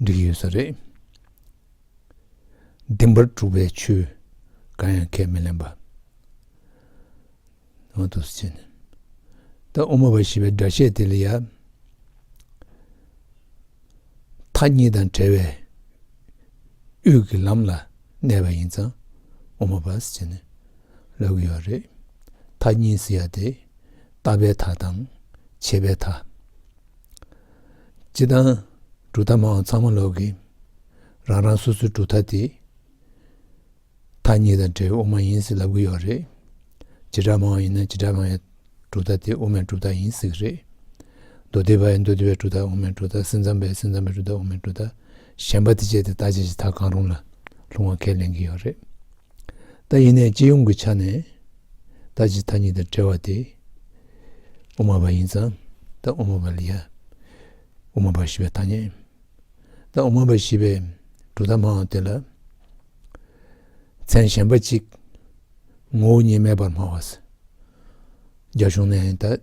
འགྲིག་ཡོད་ས་རེད། བདེན་པར་གྲུབ་པའི་ཆོས་གང་ཡང་ཁས་མི་ལེན་པ། ཨོ་དོ་སི་ནི། ད་དབུ་མ་པ་ཞེས་པའི་སྒྲ་བཤད་དེ་ལ་ཡང། མཐའ་གཉིས་དང་བྲལ་བའི་དབུས་ཀྱི་ལམ་ལ་གནས་པ་ཡིན་ཙང་དབུ་མ་པ་ཟེར་ནས་ལབ་གི་ཡོད་རེད། མཐའ་གཉིས་ཟེར་ཡ་དེ། ལྟ་བའི་མཐའ་དང། བྱེད་པའི་མཐའ། སྤྱི་དང། གྲུབ་མཐའ་མའང་ཚང་མ་ལོག་གི། རང་རང་སོ་སོའི་གྲུབ་མཐའ་དེ། མཐའ་གཉིས་དང་འབྲེལ་བའི་དབུ་མ་ཡིན་ཟེར་ལབ་གི་ཡོད་རེད། བྱེ་བྲག་མའང་ཡིན་ན་བྱེ་བྲག་མ་ཡི་གྲུབ་མཐའ་དེ་དབུ་མའི་གྲུབ་མཐའ་ཡིན་ཟེར་གི་རེད། མདོ་སྡེ་པ་ཡི་མདོ་སྡེ་པའི་གྲུབ་མཐའ་དབུ་མའི་གྲུབ་མཐའ་སེམས་ཙམ་པའི་སེམས་ཙམ་པའི་གྲུབ་མཐའ་དབུ་མའི་གྲུབ་མཐའ་གཞན་པ་དེ་སྤྱད་དེ་བརྟག་དཔྱད་ཀྱི་ཐག་གང་རུང་ལ་ལྷུང་བ་ཁས་ལེན་གྱི་ཡོད་རེད། ད་ཡིན་ནས་སྤྱི་ཡོངས་ཀྱི་ཆ་ནས་བརྟག་དཔྱད་ཐ་སྙད་དང་བྲལ་བ་དེ་དབུ་མ་པ་ཡིན་ཙང་ད་དབུ་མ་པ་ལ་ཡ་དབུ་མ་པ་ཞི་བའི་ཐ་སྙད། ད་དབུ་མ་པ་ཞི་བའི་གྲུབ་མཐའ་སྨྲ་བ་དེ་ལ་མཚན་གཞན་པ་ཅིག་ངོ་བོ་ཉིད་མེད་པར་སྨྲ་བ། རྒྱ་གཞུང་ནས་ད།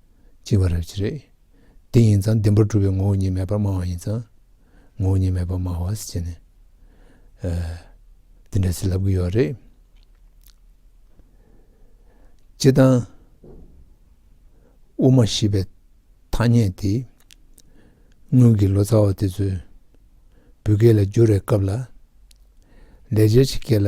བཅིང་བ་རབ་ཅི་རེད། དེ་ཡིན་ཙང་བདེན་པར་གྲུབ་པའི་ངོ་བོ་ཉིད་མེད་པར་སྨྲ་བ་ཡིན་ཙང། ངོ་བོ་ཉིད་མེད་པར་སྨྲ་བ་ཅི་ནས། འདི་འདྲ་ཚིག་ལབ་གི་ཡོད་རེད། སྤྱི་དང། དབུ་མ་ཞེས་པའི་ཐ་སྙད་དེ། སྔོན་གྱི་ལོ་ཙཱ་བ་དེ་ཚོས་བོད་སྐད་ལ་བསྒྱུར་བའི་སྐབས་ལ། ལས་བྱེད་ཀྱི་སྐད་ལ།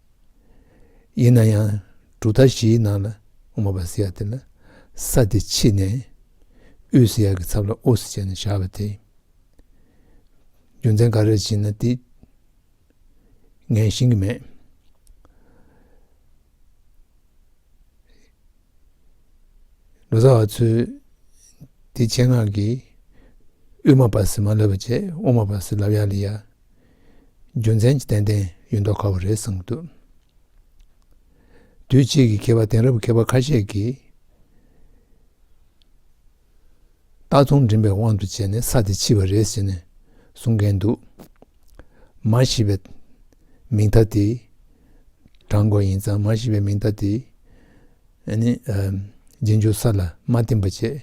ཡིན་ན་ཡང་གྲུབ་མཐའ་བཞིའི་ནང་ལ་ངོ་བ་ཟེར་ཡག་དེ་ལ་ས་དེ་ཕྱིས་ནས་དབུས་ཟེར་ཡག་གི་ཚབ་ལ་ཨོ་ཟེར་བྱས་ནས་བཞག་པ་དེ་རྒྱུ་མཚན་ག་རེར་བྱས་ན་དེ་ངས་ཤེས་ཀྱི་མེད། ལོ་ཙཱ་བ་ཚོས་དེ་ཆེད་མངགས་ཀྱིས་དབུས་མ་བ་སི་མ་ལབ་པ་བྱས་ཨོ་མ་བ་སི་ལབ་ཡག་ལི་ཡག་རྒྱུ་མཚན་གྱིས་ཏན་ཏན་ཡོད་མདོག་ག་བ་རེད་བསམ་གྱི་འདུག་དུས་ཕྱིས་ཀྱི་མཁས་པ་དེང་རབས་མཁས་པ་ཁ་ཤས་ཀྱིས་རྟགས་མཚུངས་འགྲིམ་པའི་དབང་དུ་བྱས་ནས་ས་དེ་ཕྱིས་པ་རེད་ཟེར་ནས་གསུང་མཁན་འདུག་མ་ཤི་བའི་མིང་མཐའ་དེ་བགྲང་དགོས་ཡིན་ཙང་མ་ཤི་བའི་མིང་མཐའ་དེ། རྗེས་འཇུག་ས་ལ་མ་བསྟིམ་པ་བཅས་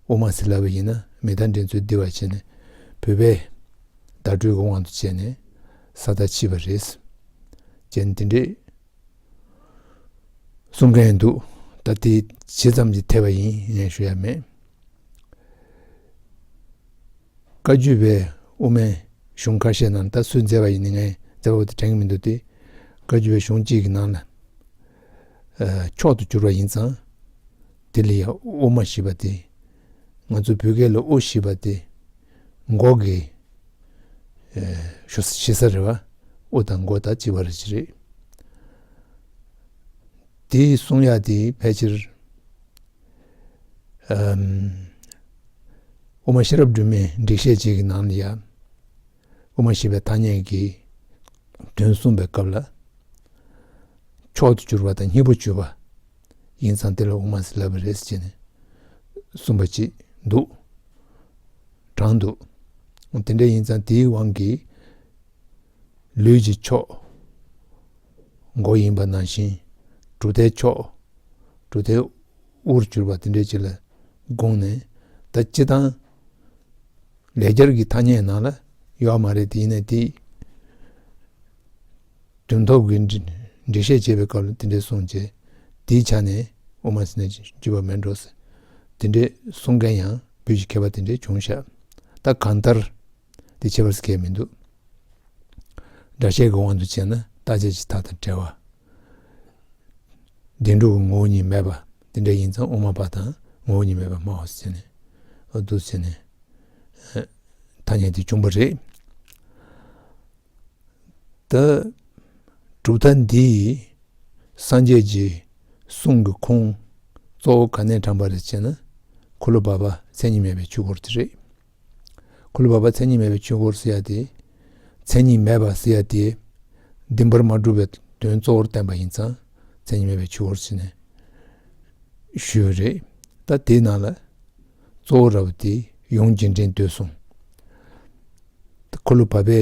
དབུ་མ་ཟིལ་ལ་བས་ཡིན་ན་མི་རྟ་འདྲེན་ཚུལ་བསྡུ་བར་བྱས་ནས་བུད་པས། བརྡ་སྤྲོད་ཀྱི་དབང་དུ་བྱས་ནས་ས་བདག་ཕྱིས་པ་རེད། ཅེས་འདི་འདྲའི་གསུང་མཁན་འདུག་ད་དེ་ཇི་ཙམ་གྱི་འཐད་པ་ཡིན་ངས་ཤོད་ཡ་མེད། བཀའ་བརྒྱུད་པའི་དབུ་མའི་གཞུང་ཁ་ཤས་ནང་ད་སུས་མཛད་པ་ཡིན་ངས་མཛད་པ་པོ་དེ་དྲན་གྱི་མི་འདུག་སྟེ། བཀའ་བརྒྱུད་པའི་གཞུང་གཅིག་གི་ནང་ལ། མཆོག་ཏུ་གྱུར་པ་ཡིན་ཙང། དེ་ལ་ཡང་དབུ་མ་བཞི་པ་སྟེ། ང་ཚོ་བོད་སྐད་ལ་དབུ་བཞི་པ་སྟེ། མགོ་གི། བཞི་ས་རེ་བ། དབུ་དང་མགོ་དང་ལྕི་བ་རེ་གཅིག་རེད། འདི་གསུངས་ཡག་དེ་ཕལ་ཆེར། དབུ་མ་ཤེས་རབ་སྒྲོན་མེའི་འགྲེལ་བཤད་ཅིག་གི་ནང་ལ་ཡང། དབུ་མ་ཞེས་པའི་ཐ་སྙད་ཀྱི་དོན་གསུངས་པའི་སྐབས་ལ། མཆོག་ཏུ་གྱུར་པ་དང་མཉེས་པོ་བྱུས་པ་ཡིན་ཙང་དེ་ལ་དབུ་མ་ལ་བ་རེད་ཅེས་གསུངས་པ་ཅིག་འདུག་གྲང་འདུག་དེ་འདྲ་ཡིན་ཙང་དེའི་དབང་གིས་ལུས་ཀྱི་མཆོག་མགོ་ཡིན་པ་ནང་བཞིན་གྲུབ་མཐའི་མཆོག་གྲུབ་མཐའི་དབུར་གྱུར་པ་དེ་འདྲ་ཅིག་ལ་དགོངས་ནས་ད་སྤྱི་དང། ལས་རྒྱར་གྱི་ཐ་སྙད་ནང་ལ་ཡོད་མ་རེད་དེ་ཡིན་ན་དེ་དོན་ཐོབ་ཀྱི་འགྲེལ་བཤད་བྱེད་པའི་སྐབས་ལ་དེ་འདྲས་གསུངས་རྗེས་དེའི་ཆ་ནས་དབུ་མ་ཟེར་ན་རྒྱུས་པ་མེད་འགྲོ་ཟེར་དེ་འདྲས་གསུངས་མཁན་ཡང་བོད་ཀྱི་མཁས་པ་དེ་འདྲས་བྱུང་ཤག་ད་གང་ལྟར། འདི་བྱེད་པར་སྐལ་མི་འདུག། སྒྲ་བཤད་ཀྱི་དབང་དུ་བྱས་ན་ལྟ་བྱེད་ཀྱི་མཐའ་དང་བྲལ་བ། བདེན་གྲུབ་ཀྱི་ངོ་བོ་ཉིད་མེད་པ་འདི་འདྲ་ཡིན་ཙང་དབུ་མ་པ་དང་ངོ་བོ་ཉིད་མེད་པར་སྨྲ་བ་སེལ་ནས་འདུག་ཟེར་ནས། ཐ་སྙད་དེ་བྱུང་བ་རེད། ད་གྲུབ་མཐའ་འདི་སངས་རྒྱས་ཀྱི་གསུང་གི་ཁུངས་གཙོ་བོ་ག་ནས་དྲངས་པ་རེད་ཅེ་ན། འཁོར་ལོ་བར་པ་མཚན་ཉིད་མེད་པའི་ཆོས་སྐོར་དེ་རེད། ཁོ་ལ་བབ་པ་མཚན་ཉིད་མེད་པའི་ཆོས་འཁོར་ཟེར་ཡ་དེ། མཚན་ཉིད་མེད་པ་ཟེར་ཡ་དེ། འདི་འབར་མ་གྲུབ་པའི་དོན་གཙོ་བོར་བསྟན་པ་ཡིན་ཙང་མཚན་ཉིད་མེད་པའི་ཆོས་འཁོར་ཟེར་ནས། ཞུས་པ་རེད། ད་དེའི་ནང་ལ། གཙོ་བོ་ར་བ་དེ་ཡོངས་འཇིག་འདྲེན་འདོད་གསུངས། ཁོ་ལ་བབ་པའི།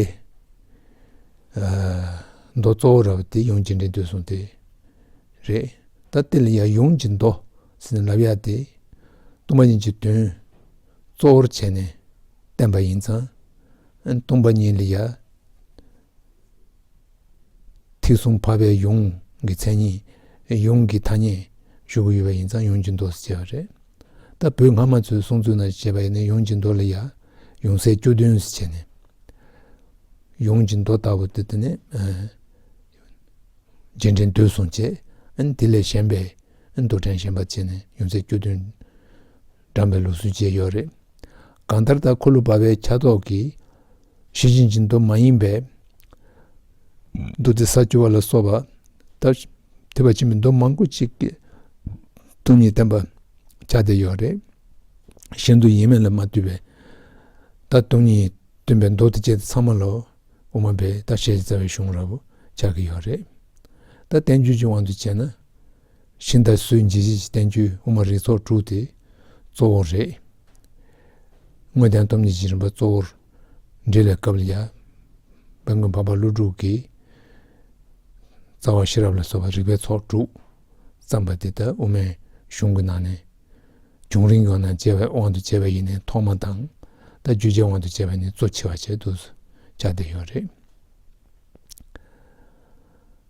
མདོ་གཙོ་བོ་ར་བ་དེ་ཡོངས་འཇིག་འདྲེན་འདོད་གསུངས་དེ། རེད། ད་དེ་ལ་ཡང་ཡོངས་འཇིག་མདོ་ཟེར་ནས་ལབ་ཡ་དེ། གཏུམ་མ་ཡིན་གྱི་དོན། གཙོ་བོར་བྱས་ནས་བསྟན་པ་ཡིན་ཙང། སྟོང་པ་ཉིད་ལ་ཡང་ཐེག་གསུམ་འཕགས་པའི་ཡོངས་ཀྱི་མཚན་ཉིད། ཡོངས་ཀྱི་ཐ་སྙད་ཞུ་གི་ཡོད་པ་ཡིན་ཙང་ཡོངས་ཀྱི་མདོ་ཞེས་བྱ་བ་རེད། ད་བོད་སྔ་མ་ཚོའི་གསུང་ཚུལ་ན་བྱས་པ་ཡིན་ན་ཡོངས་ཀྱི་མདོ་ལ་ཡང་ཡོངས་སའི་སྐྱོ་དོན་ཞེས་བྱས་ནས་ཡོངས་ཀྱི་མདོ་ལྟ་བུ་དེ་ནི་རྗེས་འབྲེལ་མདོས་གསུངས་བྱས། དེ་ལས་གཞན་པའི་མདོ་དྲན་བཞིན་པ་བྱས་ནས་ཡོངས་སའི་སྐྱོ་དོན། འགྲམ་པའི་ལུགས་སྲོལ་བཅས་ཡོད་རེད། གང་ལྟར་ད་ཁོ་ལུ་སྦ་བའི་ཆ་ཏོག་གིས་ཤི་ཅིང་ཅིང་མདོ་མ་ཡིན་པའི་མདོ་སྡེ་ས་ཅུ་བ་ལ་སོགས་པ་དང་ཐེ་བ་ཆེན་པོའི་མདོ་མང་པོ་ཅིག་གི་སྟོང་ཉིད་བསྟན་པར་བྱ་བསྡད་ཡོད་རེད། གཞན་དུ་ཡིན་མིན་ལ་མ་ལྟོས་པའི་ད་སྟོང་ཉིད་སྟོན་པའི་མདོ་སྡེ་བཅས་དེ་ཚང་མ་ལོ་དབུ་མ་པའི་ད་བཤད་བྱ་བའི་གཞུང་ར་བོ་ཆགས་ཀྱི་ཡོད་རེད། ད་བསྟན་བཅོས་ཀྱི་དབང་དུ་བྱས་ན་ཤིང་རྟ་སུའི་འཇིགས་བྱེད་ཀྱི་བསྟན་བཅོས་དབུ་མ་རིགས་ཚོགས་དྲུག་དེ་གཙོ་བོ་རེད། དངོས་བསྟན་སྟོབས་ཉིད་ཀྱི་རིམ་པ་གཙོ་བོར་འབྲི་བའི་སྐབས་ལ་ཡང། དཔལ་མགོན་འཕགས་པ་ཀླུ་སྒྲུབ་ཀྱིས། རྩ་བ་ཤེས་རབ་ལ་སོགས་པའི་རིགས་པའི་ཚོགས་དྲུག་བརྩམས་པ་དེ་ལྟར་དབུ་མའི་གཞུང་གི་ནང་ནས། བྱུང་རིམ་གྱི་ནང་དཔྱད་པའི་དབང་དུ་བྱས་པ་ཡིས་ནི་ཐོག་མ་དང། ད་བརྗོད་བྱའི་དབང་དུ་བྱས་པ་ནི་གཙོ་ཆེ་བ་བྱས་འདུག་སོ། ཆ་དེ་ཡོད་རེད།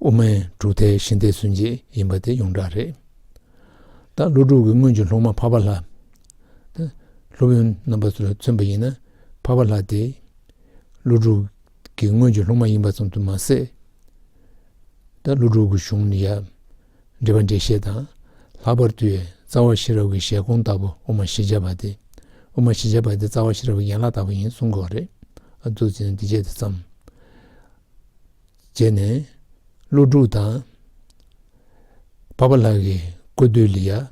དབུ་མའི་གྲུབ་མཐའི་གཞི་འདེགས་ཚུན་ཆད་ཡིན་པ་དེ་ཡོངས་གྲགས་རེད། ད་ཀླུ་སྒྲུབ་ཀྱི་སྔོན་གྱི་ལྷུག་མ་འཕགས་པ་ལྷ། སློབ་ཡོན་རྣམ་པ་ཚུར་མཚོན་པ་ཡིན་ན་འཕགས་པ་ལྷ་དེ་ཀླུ་སྒྲུབ་ཀྱི་སྔོན་གྱི་ལྷུག་མ་ཡིན་པ་ཙམ་དུ་མ་ཟད། ད་ཀླུ་སྒྲུབ་ཀྱི་གཞུང་ནི་ཡང་འགྲེལ་པ་འགྲེལ་བཤད་དང་ལྷག་པར་དུ་ཡང་རྩ་བ་ཤེས་རབ་ཀྱི་བཞེད་དགོངས་ལྟ་བུ་དབུ་མ་ཤེས་བྱ་བ་དེ་དབུ་མ་ཤེས་བྱ་བ་དེ་རྩ་བ་ཤེས་རབ་ཀྱི་ཡན་ལག་ལྟ་བུ་ཡིན་གསུང་གི་རེད། གཙོ་ཆེ་ནི་འདི་བཅས་དེ་ཙམ། བྱས་ནས་ཀླུ་སྒྲུབ་དང། འཕགས་པ་ལྷ་ཡི་བཀོད་བསྡུས་ལི་ཡ།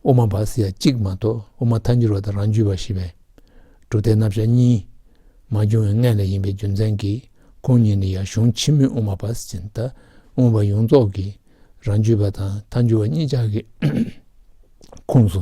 དབུ་མ་བ་སི་ཡ་གཅིག་མ་གཏོགས་དབུ་མ་ཐ་འགྱུར་བ་དང་རང་རྒྱུད་བ་ཞེས་པའི་སྒྲུབ་སྡེ་རྣམ་གཞག་གཉིས་མ་བྱུང་བའི་སྔས་ལ་ཡིན་པའི་རྒྱུ་མཚན་གྱིས་ཁོང་གཉིས་ནི་ཡ་གཞུང་ཆེན་མོའི་དབུ་མ་བ་སི་ཅན་དང་དབུ་མ་བ་ཡོངས་རྫོགས་ཀྱི་རང་རྒྱུད་བ་དང་ཐ་འགྱུར་བ་གཉིས་ཅག་གི་ཁོངས་སུ་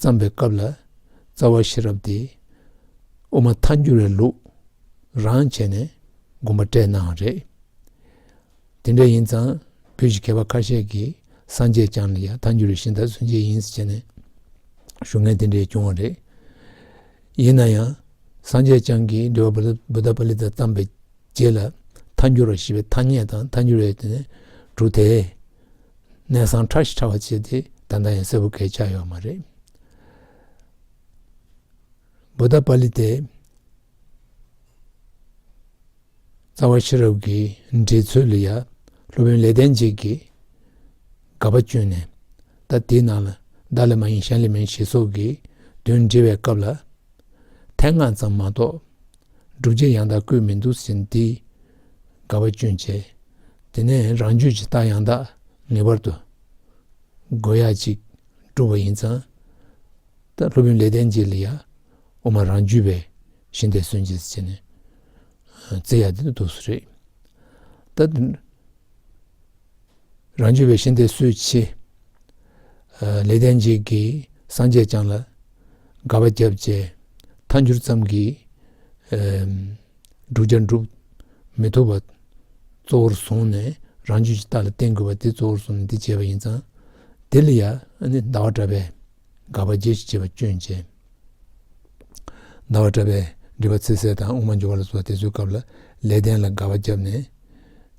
བརྩམས་པའི་སྐབས་ལ་རྩ་བ་ཤེས་རབ་སྟེ་དབུ་མ་མཐའ་འགྱུར་བའི་ལུགས་རང་བྱས་ནས་དགོངས་པ་སྤྲད་ནའང་རེད། དེ་འདྲ་ཡིན་ཙང་བོད་ཀྱི་མཁས་པ་ཁ་ཤས་ཀྱིས་སངས་རྒྱས་བསྐྱངས་ལ་ཡང་མཐའ་འགྱུར་བའི་ཤིང་རྟ་མཚོན་བྱེད་ཡིན་ཟེར་ནས་ཞུ་མཁན་དེ་འདྲས་བྱུང་བ་རེད། ཡིན་ན་ཡང་སངས་རྒྱས་བསྐྱངས་ཀྱིས་འགྲེལ་པ་བུ་ད་པ་ལི་དང་བརྩམས་པའི་རྗེས་ལ་མཐའ་འགྱུར་བ་ཞེས་པའི་ཐ་སྙད་དང་མཐའ་འགྱུར་བའི་དེ་ནས་གྲུབ་དེ། གནས་ཚང་ཁྲ་ཞིག་ཁྲ་བ་བྱེད་དེ་ད་ལྟ་ཡང་གསལ་བོ་གས་ཆགས་ཡོད་མ་རེད། བུ་ད་པ་ལི་ཏའི་རྩ་བ་ཤེས་རབ་ཀྱི་འགྲེལ་ཚུལ་ལ་ཡ་སློབ་དཔོན་ལེགས་ལྡན་འབྱེད་ཀྱིས་དགག་པ་བཅོས་ནས་ད་དེའི་ནང་ལ་བདག་ལས་མ་ཡིན་གཞན་ལས་མིན་ཞེས་སོགས་ཀྱི་དོན་འགྲེལ་བའི་སྐབས་ལ། དེ་སྔ་ཙམ་མ་གཏོགས་སྒྲུབ་བྱེད་ཡང་དག་བཀོད་མི་འདུག་ཟིན་བྲིས་དགའ་བ་སྐྱོན་ཆེ། དེ་ནས་རང་རྒྱུད་ཀྱི་རྟགས་ཡང་དག་ངེས་པར་དུ་དགོས་ཡ་གཅིག་སྒྲུབ་པ་ཡིན་ཙང་ད་སློབ་དཔོན་ལེགས་ལྡན་འབྱེད་ལ་ཡ་དབུ་མ་རང་རྒྱུད་པའི་གཞི་འདེད་སོན་བྱེད་ཅེས་ནས་བརྩི་ཡ་དེ་འདུག་སུ་རེད་ད། རང་རྒྱུད་པའི་ཤིང་རྟའི་སྲོལ་ཕྱེ། ལས་ལྡན་འབྱེད་ཀྱིས་སངས་རྒྱས་བསྐྱངས་ལ། དགའ་བ་བརྒྱ་བཅས་མཐའ་འགྱུར་ཙམ་གྱིས། འབྲུག་བརྒྱ་འགྲུབ། མི་ཐུབ་པ། གཙོ་བོར་བཟུང་ནས་རང་རྒྱུད་ཀྱི་རྟགས་ལ་བརྟེན་དགོས་པ་དེ་གཙོ་བོར་བཟུང་ནས་འདི་བྱེད་པ་ཡིན་ཙང། འདི་ལ་ཡང་ཟླ་བ་བཀྲ་བས། དགའ་བ་བརྒྱད་ཀྱིས་བྱེད་པ་སྐྱོན་ཅན། ཟླ་བ་བཀྲ་བས་འབྲི་བ་ཚེ་གསལ་དང་དབུ་མ་འབྱོར་བ་ལ་སོགས་ཏེ་བཟོད་སྐབས་ལ་ལས་ལྡན་ལ་དགའ་བ་བརྒྱབ་ནས།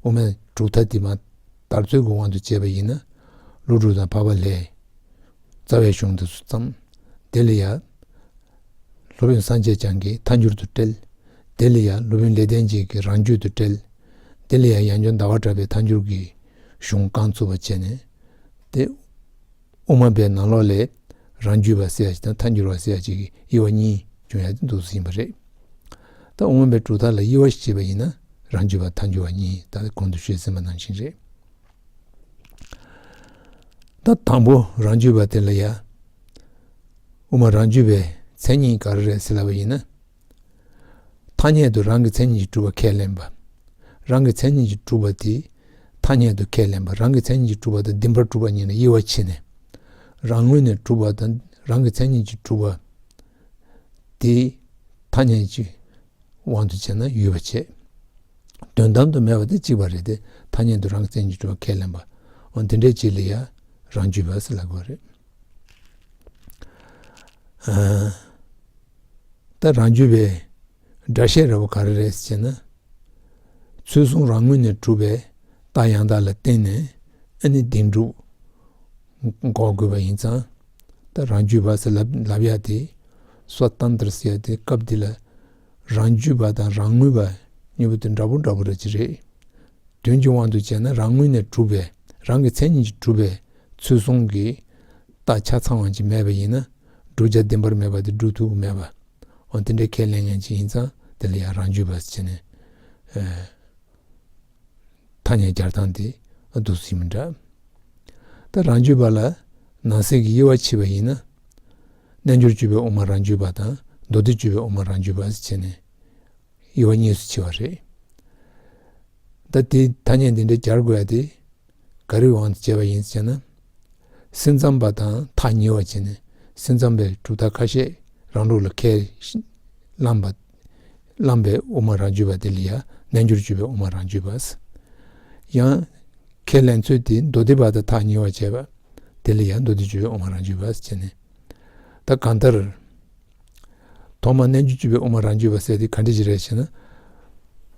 དབུ་མའི་གྲུབ་མཐའ་འདི་མ་དར་ཚུལ་གྱི་དབང་དུ་བྱས་པ་ཡིན་ན། ཀླུ་སྒྲུབ་དང་འཕགས་པ་ལྷའི་རྩ་བའི་གཞུང་དེ་སུ་བརྩམས། དེ་ལ་ཡང། སློབ་དཔོན་སངས་རྒྱས་བྱང་གིས་ཐ་མྱུར་དུ་བཀྲལ། དེ་ལ་ཡང་སློབ་དཔོན་ལེགས་ལྡན་འབྱེད་ཀྱིས་རང་རྒྱུད་དུ་བཀྲལ། དེ་ལ་ཡང་ཡང་སྦྱོར་ཟླ་བ་གྲགས་པས་ཐ་མྱུར་གྱི་གཞུང་རྐང་ཚུགས་པར་བྱས་ནས། དེ། དབུ་མ་པའི་ནང་ལོགས་ལས་རང་རྒྱུད་པ་བསལ་བྱེད་དང་མཐའ་འགྱུར་བ་བསལ་བྱེད་ཀྱི་དབྱེ་བ་གཉིས་ཅུང་ཡག་ཏུ་འདུག་ཟིན་པ་རེད། ད་དབུ་མ་པའི་གྲུབ་མཐའ་ལ་དབྱེ་བ་ཞིག་བྱེད་པ་ཡིན་ན་རང་རྒྱུད་པ་མཐའ་འགྱུར་བ་གཉིས་ད་གོང་དུ་ཤོད་ཟིན་པ་ནང་བཞིན་རེད། ད་དང་པོ་རང་རྒྱུད་པ་དེ་ལ་ཡ་དབུ་མ་རང་རྒྱུད་པའི་མཚན་ཉིད་ག་རེ་རེད་ཟེར་ལབ་པ་ཡིན་ན། ཐ་སྙད་དུ་རང་གི་མཚན་ཉིད་ཀྱིས་གྲུབ་པ་ཁས་ལེན་པ། རང་གི་མཚན་ཉིད་ཀྱིས་གྲུབ་པ་དེ་ཐ་སྙད་དུ་ཁས་ལེན་པ་རང་གི་མཚན་ཉིད་ཀྱིས་གྲུབ་པ་དང་འདི་འཕར་གྲུབ་པ་གཉིས་ལ་དབྱེ་བ་ཕྱེ་ནས། རང་ངོས་ནས་གྲུབ་པ་དང་རང་གི་མཚན་ཉིད་ཀྱིས་གྲུབ་པ། དེ་ཐ་སྙད་ཀྱི་དབང་དུ་བྱས་ན་ཡུལ་བ་བྱེད་དོན་དམ་དུ་མེད་པ་དེ་གཅིག་པ་རེད་དེ་ཐ་སྙད་དུ་རང་གི་མཚན་ཉིད་ཀྱིས་གྲུབ་པ་ཁས་ལེན་པའང་དེ་འདྲའི་བྱེད་ལས་ཡ་རང་རྒྱུད་བས་ལ་དགོས་པ་རེད། ད་རང་རྒྱུད་པའི་སྒྲ་བཤད་ར་བ་ག་རེ་རེད་ཅེ་ན། ཚུལ་གསུང་རང་ངོས་ནས་གྲུབ་པའི་རྟགས་ཡང་དག་ལ་བརྟེན་ནས་ཨ་ནི་གདིང་གྲུབ་འགོག་དགོས་པ་ཡིན་ཙང། ད་རང་རྒྱུད་པ་ཟེར་ལབ་ཡ་དེ་སོ་ཏན་ཏར་ཟེར་ཡ་དེ་སྐབས་འདི་ལ་རང་རྒྱུད་པ་དང་རང་ངོས་པ་གཉིས་པོ་དེ་འདྲ་པོ་འདྲ་པོ་རེད་ཅེ་རེད། དོན་གྱི་དབང་དུ་བྱས་ན་རང་ངོས་ནས་གྲུབ་པས་རང་གི་མཚན་ཉིད་ཀྱིས་གྲུབ་པའི་ཚུལ་གསུང་གི། རྟགས་ཆ་ཚང་བ་ཅིག་མེད་པ་ཡིན་ན་བསྒྲུབ་བྱ་བདེན་པར་མེད་པ་དེ་སྒྲུབ་ཐུག་མེད་པ། འོན་ཏེ་འདྲེ་ཁས་ལེན་མཁན་ཅིག་ཡིན་ཙང་དེ་ལ་ཡང་རང་རྒྱུད་པར་བྱས་ནས། ཐ་སྙད་བསྐྱར་སྟངས་དེ་སྡུག་ཟིན་མི་འདྲ། ད་རང་རྒྱུད་པ་ལ་ནང་གསེས་ཀྱི་དབྱེ་བ་ཕྱེ་བ་ཡིན་ན། རྣལ་འབྱོར་སྤྱོད་པའི་དབུ་མ་རང་རྒྱུད་པ་དང་མདོ་སྡེ་སྤྱོད་པའི་དབུ་མ་རང་རྒྱུད་པར་བྱས་ནས། དབྱེ་བ་གཉིས་སུ་ཕྱེ་བ་རེད། ད་དེའི་ཐ་སྙད་འདི་འདྲ་སྦྱར་དགོས་ཡ་དེ་ག་རེའི་དབང་དུ་བྱས་པ་ཡིན་ཟེར་ན། སེམས་ཙམ་པ་དང་ཐག་ཉེ་བར་བྱས་ནས་སེམས་ཙམ་པའི་གྲུབ་མཐའ་ཁ་ཤས་རང་ལུགས་ལ་ཁས་བླངས་པ། བླངས་པའི་དབུ་མ་རང་གཅོད་པ་དེ་ལ་ཡང་རྣལ་འབྱོར་སྤྱོད་པའི་དབུ་མ་རང་གཅོད་པ། ཡང་ཁས་ལེན་ཚུལ་དེ་མདོ་སྡེ་པ་དང་ཐག་ཉེ་བར་བྱས་པ། དེ་ལ་ཡང་མདོ་སྡེ་སྤྱོད་པའི་དབུ་མ་རང་གཅོད་པ་ཟེར་ནས། ད་གང་ལྟར། ཐོག་མར་རྣལ་འབྱོར་བཅུ་པའི་དབུ་མ་རང་རྒྱུད་པར་གསལ་ཏེ་གང་འདྲི་ཅི་རེད་ཅེ་ན།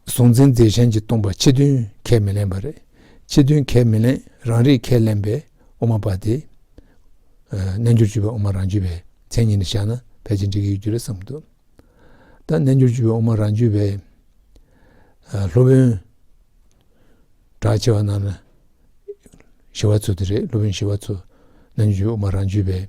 གཟུང་འཛིན་རྫས་གཞན་གྱིས་སྟོང་པ་ཕྱི་དོན་ཁས་མི་ལེན་པ་རེད། ཕྱི་དོན་ཁས་མི་ལེན་རང་རིག་ཁས་ལེན་པའི་དབུ་མ་པ་དེ། རྣལ་འབྱོར་བཅུ་པའི་དབུ་མ་རང་རྒྱུད་པའི་མཚན་ཉིད་ནས་བཞག་ན་ཕལ་ཆེར་འགྲིག་གི་ཡོད་རྒྱུ་རེད་བསམ་འདུག་ད་རྣལ་འབྱོར་བཅུ་པའི་དབུ་མ་རང་རྒྱུད་པའི། སློབ་དཔོན་གྲགས་ཆེ་བ་རྣམས་ལ། ཞི་བ་ཚུལ་དེ་རེད་སློབ་དཔོན་ཞི་བ་ཚུལ་རྣལ་འབྱོར་བཅུ་པའི་དབུ་མ་རང་རྒྱུད་པའི།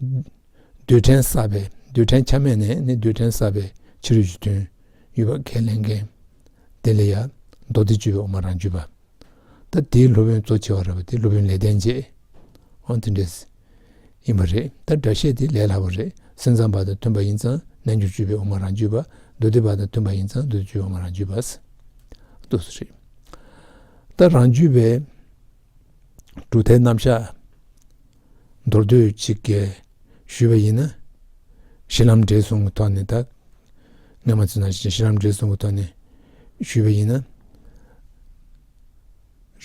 རྡུལ་ཕྲན་བསགས་པའི་རྡུལ་ཕྲན་ཆ་མེད་ནས་ནི་རྡུལ་ཕྲན་བསགས་པའི་ཕྱི་རོལ་གྱི་དོན་ཡོད་པར་ཁས་ལེན་མཁན་དེ་ལ་ཡང་མདོ་སྡེ་བཅུ་པའི་འོག་མ་རང་རྒྱུད་པ་ད་དེའི་སློབ་དཔོན་གཙོ་ཆེ་བ་ར་བ་དེ་སློབ་དཔོན་ལས་བསྟན་རྗེས་འོང་དེ་འདྲས་ཡིན་པ་རེད་ད་སྒྲ་བཤད་དེ་ལས་སླ་བོ་རེད་སེམས་ཙམ་པ་དང་མཐུན་པ་ཡིན་ཙང་རྣལ་འབྱོར་བཅུ་པའི་འོག་མ་རང་རྒྱུད་པ་མདོ་སྡེ་པ་དང་མཐུན་པ་ཡིན་ཙང་མདོ་སྡེ་བཅུ་པའི་འོག་མ་རང་རྒྱུད་པ། ཏུ་རེད། ད་རང་རྒྱུད་པའི། གྲུབ་མཐའི་རྣམ་གཞག་མདོར་བསྡུས་གཅིག་གལ་ཞུས་པ་ཡིན་ན། གཞི་ལམ་འབྲས་གསུམ་གྱི་ཐོག་ནས་དང། སྔ་མ་ཚོས་ནང་བཞིན་གཞི་ལམ་འབྲས་གསུམ་གྱི་ཐོག་ནས་ཞུས་པ་ཡིན་ན།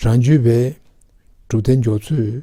རང་རྒྱུད་པའི་གྲུབ་མཐའི་འཇོག་ཚུལ།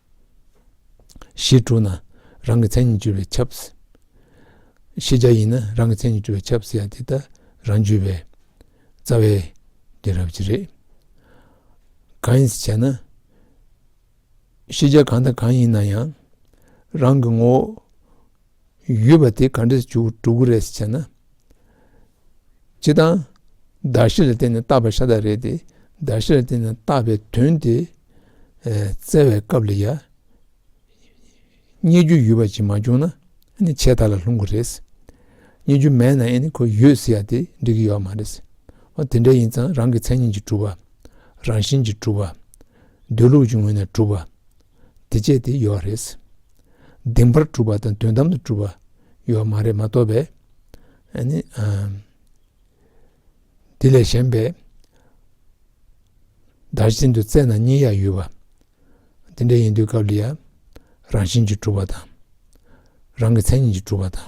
གཞི་དྲུག་ན་རང་གི་མཚན་ཉིད་འགྱུར་བས་ཁྱབ། ཤེས་བྱ་ཡིན་ན་རང་གི་མཚན་ཉིད་འགྱུར་བས་ཁྱབ་ཟེར་ཡང་དེ་ལྟར་རང་འགྱུར་བས་རྩ་བའི་རྒྱུ་རབ་ཀྱི་རེད། གང་ཡིན་ཟེར་ན། ཤེས་བྱ་གང་དང་གང་ཡིན་ན་ཡང་རང་གི་ངོ་བོ། ཡོད་པ་དེ་ག་འདྲས་འགྲོ་གི་རེད་ཟེར་ན། སྤྱིར་བཏང་བརྡ་ཤེས་ལ་བརྟེན་ནས་བཏགས་པ་ཤ་སྟག་རེད་དེ་བརྡ་ཤེས་ལ་བརྟེན་ནས་བཏགས་པའི་དོན་དེ་བཙལ་བའི་སྐབས་ལ་ཡང་རྙེད་རྒྱུ་ཡོད་པ་ཅིག་མ་བྱུང་ན་ནི་ཆད་ལྟ་ལ་ལྷུང་གི་རེད། རྙེད་རྒྱུ་མེད་ན་ཡང་ནི་ཁོས་ཡོད་ཟེར་ཡ་དེ་འགྲིག་གི་ཡོད་མ་རེད། འོ་དེ་འདྲ་ཡིན་ཙང་རང་གི་མཚན་ཉིད་ཀྱི་གྲུབ་པ། རང་བཞིན་གྱི་གྲུབ་པ། སྡོད་ལུགས་ཀྱི་ངོས་ནས་གྲུབ་པ། འདི་བཅད་དེ་ཡོད་རེད། གདིང་བར་གྲུབ་པ་དང་དོན་དམ་དུ་གྲུབ་པ་ཡོད་མ་རེད་མ་གཏོགས་པས། འདི་ལས་གཞན་པའི་བདག་བཞིན་དུ་བཙལ་ན་གཉིས་ཡ་ཡོད་པ། འདི་འདྲ་ཡིན་དུས་སྐབས་འདི་ཡང་རང་བཞིན་གྱིས་གྲུབ་པ་དང། རང་གི་མཚན་ཉིད་ཀྱིས་གྲུབ་པ་དང།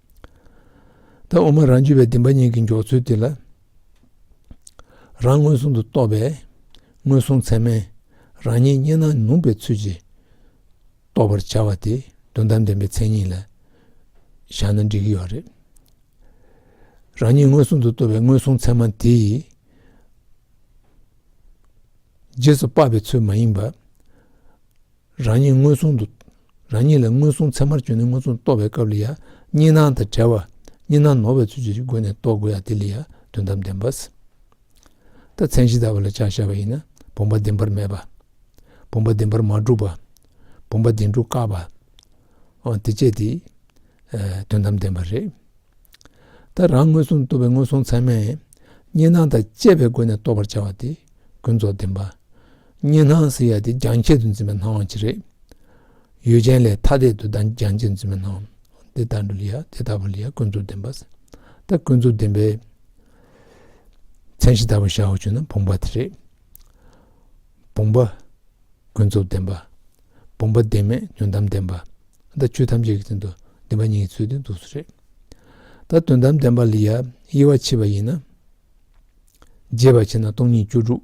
ད་འོ་མ་རང་རྒྱུད་པའི་བདེན་པ་གཉིས་ཀྱི་འཇོག་ཚུལ་དེ་ལ། རང་མངོན་སུམ་དུ་རྟོགས་པའི་མངོན་སུམ་ཚད་མས་རང་ཉིད་རྙེད་ན་ནུབ་པའི་ཚུལ་གྱིས་རྟོགས་པར་བྱ་བ་དེ་དོན་དམ་བདེན་པའི་མཚན་ཉིད་ལ་བཞག་ན་འགྲིག་གི་ཡོད་རེད། རང་ཉིད་མངོན་སུམ་དུ་རྟོགས་པའི་མངོན་སུམ་ཚད་མ་དེ་ཡི་རྗེས་སུ་དཔག་པའི་ཚུལ་མ་ཡིན་པ། རང་ཉིད་མངོན་སུམ་དུ། རང་ཉིད་ལ་མངོན་སུམ་ཚད་མར་བཅོས་ནས་མངོན་སུམ་རྟོགས་པའི་སྐབས་ལ་ཡང་གཉིས་སྣང་དང་བྲལ་བ་གཉིས་སྣང་ནོར་བའི་ཚུལ་གྱིས་སྒོ་ནས་རྟོགས་དགོས་ཡང་དེ་ལ་ཡང་དོན་དམ་བདེན་པ། ད་མཚན་གཞི་ལྟ་བ་ལ་ཕྱག་བྱ་བ་ཡིན་ན་བུམ་པ་བདེན་པར་མེད་པ། བུམ་པ་བདེན་པར་མ་གྲུབ་པ། བུམ་པ་བདེན་གྲུབ་དཀའ་བ། འོ་དེ་སྤྱད་དེ། དོན་དམ་བདེན་པ་རེད། ད་རང་མངོན་སུམ་དུ་རྟོགས་པའི་མངོན་སུམ་ཚད་མས་གཉིས་སྣང་དང་བཅས་པའི་སྒོ་ནས་རྟོགས་པར་བྱ་བ་དེ་ཀུན་རྫོབ་བདེན་པ། གཉན་སྣང་ཟེར་ཡ་དེ་རྒྱང་ཁྱད་དུ་འཛིན་པའི་སྣང་བ་ཅིག་རེད། ཡུལ་ཅན་ལས་ཐ་དད་དུ་རྒྱང་ཁྱད་འཛིན་པའི་སྣང་བ་འདི་ལྟ་བུ་ལ་ཡང་དེ་ལྟ་བུ་ལ་ཡང་ཀུན་རྫོབ་བདེན་པ་ཟེར། ད་ཀུན་རྫོབ་བདེན་པའི་མཚན་གཞི་ལྟ་བུ་བཞག་གོ་ཞེ་ན་བུམ་པ་དེ་རེད། བུམ་པ་ཀུན་རྫོབ་བདེན་པ། བུམ་པ་བདེན་མེད་དོན་དམ་བདེན་པ། ད་ཆོས་ཐམས་ཅད་ཀྱི་སྟེང་དུ་བདེན་པ་ཉིད་ཀྱི་ཚུལ་དེ་འདུག་ཚུལ་རེད། ད་དོན་དམ་བདེན་པ་ལ་ཡང་དབྱེ་བ་ཕྱེ་བ་ཡིན་ན། རྒྱས་པར་ཕྱེ་ན་སྟོང་ཉིད་བཅུ་དྲུག།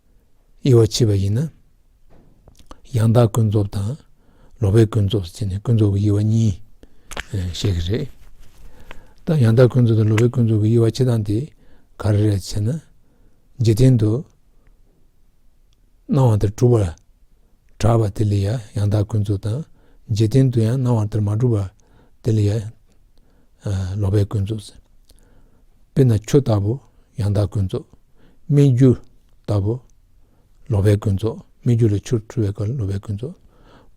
དབྱེ་བ་ཕྱེ་བ་ཡིན་ན། ཡང་དག་ཀུན་རྫོབ་དང་ལོག་པའི་ཀུན་རྫོབ་ཅེས་ནས་ཀུན་རྫོབ་ཀྱི་དབྱེ་བ་གཉིས་བཤད་ཀྱི་རེད། ད་ཡང་དག་ཀུན་རྫོབ་དང་ལོག་པའི་ཀུན་རྫོབ་ཀྱི་དབྱེ་བ་ཕྱེ་སྟངས་དེ་ག་རེ་རེད་ཅེ་ན། འཇིག་རྟེན་དུ་སྣང་བ་དེར་གྲུབ་པར་གྲགས་པ་དེ་ལ་ཡང་དག་ཀུན་རྫོབ་དང། འཇིག་རྟེན་དུ་ཡང་སྣང་བ་དེར་མ་གྲུབ་པ་དེ་ལ། ལོག་པའི་ཀུན་རྫོབ་ཟེར། དཔེར་ན་ཆུ་ལྟ་བུ་ཡང་དག་ཀུན་རྫོབ། སྨིག་རྒྱུ་ལྟ་བུ་ལོག་པའི་ཀུན་རྫོབ་སྨིག་རྒྱུ་ལས་ཆུར་འཁྲུལ་བའི་སྐབས་ལོག་པའི་ཀུན་རྫོབ།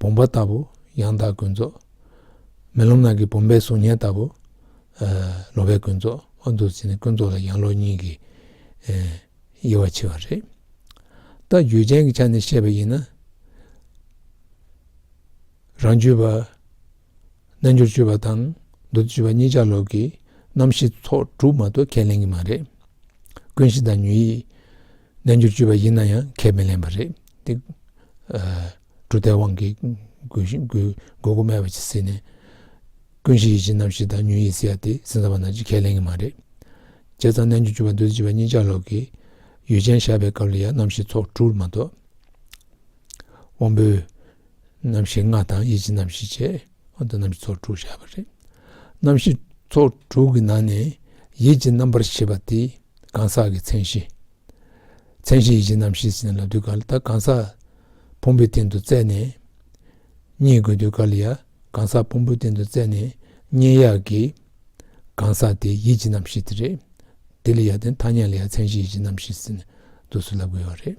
བུམ་པ་ལྟ་བུ་ཡང་དག་ཀུན་རྫོབ། མེ་ལོང་ནང་གི་བུམ་པའི་གཟུགས་བརྙན་ལྟ་བུ་ལོག་པའི་ཀུན་རྫོབ། ཨ་འདུ་བྱེད་ནི་ཀུན་རྫོབ་ལ་ཡང་ལོག་གཉིས་ཀྱི་དབྱེ་བ་ཕྱེ་བ་རེད། ལྟ་རྒྱུད་ཅན་གྱི་ཆ་ནས་བཤད་པ་ཡིན་ན། རང་རྒྱུད་པ། རྣལ་འབྱོར་སྤྱོད་པ་དང་འདུ་སྤྱོད་པ་གཉིས་ཆ་ལོག་གི་རྣམ་ཤེས་ཚོགས་དྲུག་མ་གཏོགས་ཁས་ལེན་གྱི་མ་རེད། ཀུན་གཞི་དང་ཉོན་ཡིད། རྣལ་འབྱོར་སྤྱོད་པ་ཡིན་ན་ཡང་ཁས་མི་ལེན་པ་རེད་དེ། གྲུབ་མཐའི་དབང་གིས་དགོས་མཁོ་སྨྲས་པ་ཇི་སྲིད་ནས་ཀུན་གཞི་ཡིད་བཞིན་རྣམ་ཤེས་དང་ཉོན་ཡིད་སྲིད་ཡ་དེ་སྲིད་འཛིན་པ་ན་ཅིག་ཁས་ལེན་གྱི་མ་རེད། བྱས་ཙང་རྣལ་འབྱོར་སྤྱོད་པ་འདུ་སྤྱོད་པ་གཉིས་ཆ་ལོག་གི་ཡུལ་ཅན་བཞག་པའི་སྐབས་ལ་ཡང་རྣམ་ཤེས་ཚོགས་དྲུག་མ་གཏོགས། དབང་པོའི་རྣམ་ཤེས་ལྔ་དང་ཡིད་ཀྱི་རྣམ་ཤེས་བཅས་ཨ་འདུ་རྣམ་ཤེས་ཚོགས་དྲུག་བྱ་བ་རེད། རྣམ་ཤེས་ཚོགས་དྲུག་གི་ནང་ནས་ཡིད་ཀྱི་རྣམ་པར་ཤེས་པ་དེ་གང་ཟག་གི་མཚན་གཞི། མཚན་གཞི་ཡིད་ཀྱི་རྣམ་ཤེས་ཟིན་ལ་དུས་ག་ལ་ད་གང་ཟག་ཕུང་པོའི་སྟེང་དུ་བཙལ་ནས་རྙེད་དགོས་དུས་ག་ལ་ཡ་གང་ཟག་ཕུང་པོའི་སྟེང་དུ་བཙལ་ནས་རྙེད་ཡག་གི་གང་ཟག་དེ་ཡིད་ཀྱི་རྣམ་ཤེས་དེ་རེད། དེ་ལ་ཡ་དེ་ཐ་སྙད་ལ་ཡ་མཚན་གཞི་ཡིད་ཀྱི་རྣམ་ཤེས་ཟིན་དུས་སུ་ལབ་དགོས་པ་རེད།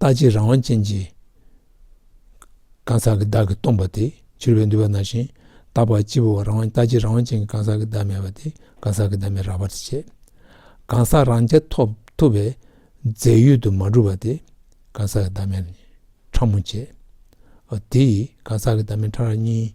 རྟག་ཅིང་རང་དབང་ཅན་གྱི། གང་ཟག་གི་བདག་གིས་སྟོང་པ་དེ། འཆོལ་བའི་འདུལ་བ་ན་བཞིན་རྟག་པར་སྤྱི་བོར་རང་དབང་རྟག་ཅིང་རང་དབང་ཅན་གྱི་གང་ཟག་གི་བདག་མེད་པ་དེ་གང་ཟག་གི་བདག་མེད་རགས་པར་བྱས། གང་ཟག་རང་རྐྱ་ཐོབ་ཐུབ་པའི། རྫས་ཡོད་དུ་མ་གྲུབ་པ་དེ། གང་ཟག་གི་བདག་མེད་ཕྲ་མོ་བྱས། དེ་ཡིས་གང་ཟག་གི་བདག་མེད་ཕྲ་རགས་གཉིས།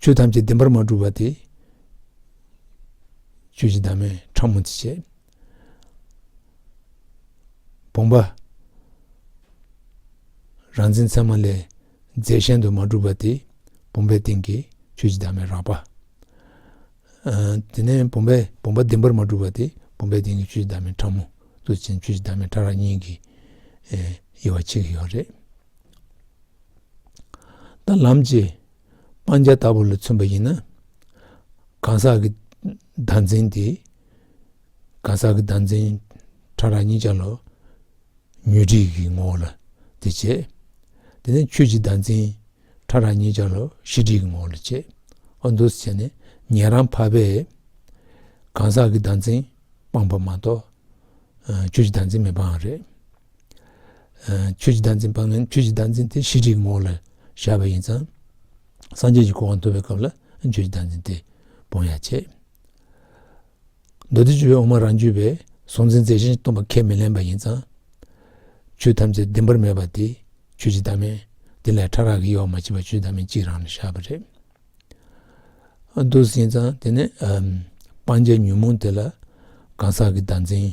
ཆོས་ཐམས་ཅད་བདེན་པར་མ་གྲུབ་པ་དེ། ཆོས་ཀྱི་བདག་མེད་ཕྲ་མོ་འདི་བྱེད། བུམ་པ། རང་འཛིན་མཚན་མ་ལས་རྫས་གཞན་དུ་མ་གྲུབ་པ་དེ། བུམ་པའི་སྟེང་གི་ཆོས་ཀྱི་བདག་མེད་རགས་པ། དེ་ནས་བུམ་པའི་བུམ་པ་བདེན་པར་མ་གྲུབ་པ་དེ། བུམ་པའི་སྟེང་གི་ཆོས་ཀྱི་བདག་མེད་ཕྲ་མོ། གཙོ་ཆེན་ཆོས་ཀྱི་བདག་མེད་ཕྲ་རགས་གཉིས་ཀྱི་དབྱེ་བ་ཕྱེ་གི་ཡོད་རེད། ད་ལམ་གྱི་སྤང་བྱ་ལྟ་བུ་ལ་མཚོན་པ་ཡིན་ན། གང་ཟག་གི་བདག་འཛིན་དེ་གང་ཟག་གི་བདག་འཛིན་ཕྲ་རགས་གཉིས་ཆར་ལ་ཉོན་སྒྲིག་གི་ངོ་བོ་ལ་དེ་བྱེད། དེ་ནས་ཆོས་ཀྱི་བདག་འཛིན་ཕྲ་རགས་གཉིས་ཆར་ལ་གཞི་སྒྲིག་གི་ངོ་བོ་ལ་བྱེད། ཨ་མདོས་བྱས་ནས་ཉན་རང་ཕ་བས་གང་ཟག་གི་བདག་འཛིན་སྤངས་པ་མ་གཏོགས་ཆོས་ཀྱི་བདག་འཛིན་མི་སྤངས་རེད། ཆོས་ཀྱི་བདག་འཛིན་སྤངས་ནས་ཆོས་ཀྱི་བདག་འཛིན་དེ་ཤེས་རིག་གི་ངོ་བོ་ལ་བཞག་པ་ཡིན་ཙང། སངས་རྒྱས་ཀྱི་གོ་བ་འདུ་བའི་སྐབས་ལ་ཆོས་ཀྱི་བདག་འཛིན་དེ་སྤོང་ཡ་ཆེ། མདོ་སྡེ་བཅུ་པའི་འོག་མ་རང་རྒྱུད་པའི་གཟུང་འཛིན་རྫས་གཞན་སྟོང་པ་ཁས་མི་ལེན་པ་ཡིན་ཙང། ཆོས་ཐམས་ཅད་བདེན་པར་མེད་པ་དེ་ཆོས་ཀྱི་བདག་མེད་དེ་ལས་ཕྲ་རགས་ཀྱི་དབྱེ་བ་མ་མཆིས་པ་ཆོས་ཀྱི་བདག་མེད་གཅིག་རང་ལ་བཞག་པ་རེད་འདུག་ཟིན་ཙང་དེ་ནས་སྤང་བྱའི་ཉོན་མོངས་དེ་ལ་གང་ཟག་གི་བདག་འཛིན།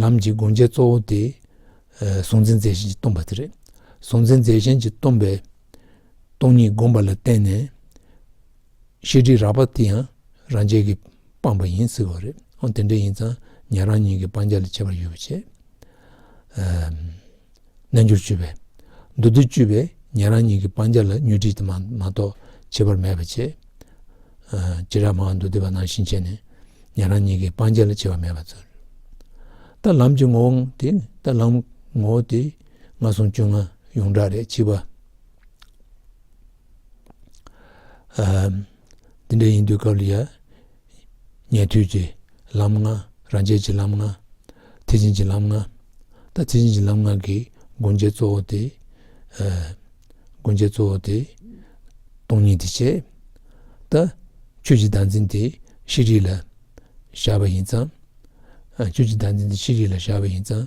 ལམ་གྱི་དགོངས་འཆར་གཙོ་བོ་དེ། གཟུང་འཛིན་རྫས་གཞན་གྱིས་སྟོང་པ་དེ་རེད། གཟུང་འཛིན་རྫས་གཞན་གྱིས་སྟོང་པའི། སྟོང་ཉིད་བསྒོམ་པ་ལ་བརྟེན་ནས། ཤེས་སྒྲིབ་རགས་པ་དེ་ཡང་རང་རྒྱལ་གྱིས་སྤངས་པ་ཡིན་ཟེར་བ་རེད། འོན་ཏེ་འདྲེ་ཡིན་ཙང་ཉན་རང་ཉིད་ཀྱི་སྤང་བྱ་ལས་ཁྱད་པར་ཡོད་པ་བྱེད། རྣལ་འབྱོར་བཅུ་པས། མདོ་སྡེ་བཅུ་པས་ཉན་རང་ཉིད་ཀྱི་སྤང་བྱ་ལ་མྱོས་དྲིས་དེ་མ་གཏོགས་བྱེད་པར་མེད་པར་བྱས། སྤྱིར་ར་མ་མདོ་སྡེ་པ་ནང་བཞིན་བྱས་ནས་ཉན་རང་ཉིད་ཀྱི་སྤང་བྱ་ལ་བྱེད་པ་མེད་པར་མཛོད། རྟ་ལམ་གྱི་ངོ་བོ་དེ་ནི་རྟ་ལམ་ངོ་བོ་དེ་ལྔ་སོང་བཅོ་ལྔ་ཡོངས་གྲགས་རེ་གཅིག་པ། དེ་འདྲ་ཡིན་དུས་སྐབས་ལ་ཡ། ཉན་ཐོས་ཀྱི་ལམ་ལྔ། རང་རྒྱལ་གྱི་ལམ་ལྔ། ཐེག་ཆེན་གྱི་ལམ་ལྔ། ད་ཐེག་ཆེན་གྱི་ལམ་ལྔ་གི་སྒོ་འབྱེད་གཙོ་བོ་དེ། སྒོ་འབྱེད་གཙོ་བོ་དེ། སྟོང་ཉིད་དེ་བྱས། ད། ཁྱོད་ཀྱི་བདག་འཛིན་དེ་ཤེས་རིག་ལ། བཞག་པ་ཡིན་ཙང། ཁྱོད་ཀྱི་བདག་འཛིན་དེ་ཤེས་རིག་ལ་བཞག་པ་ཡིན་ཙང།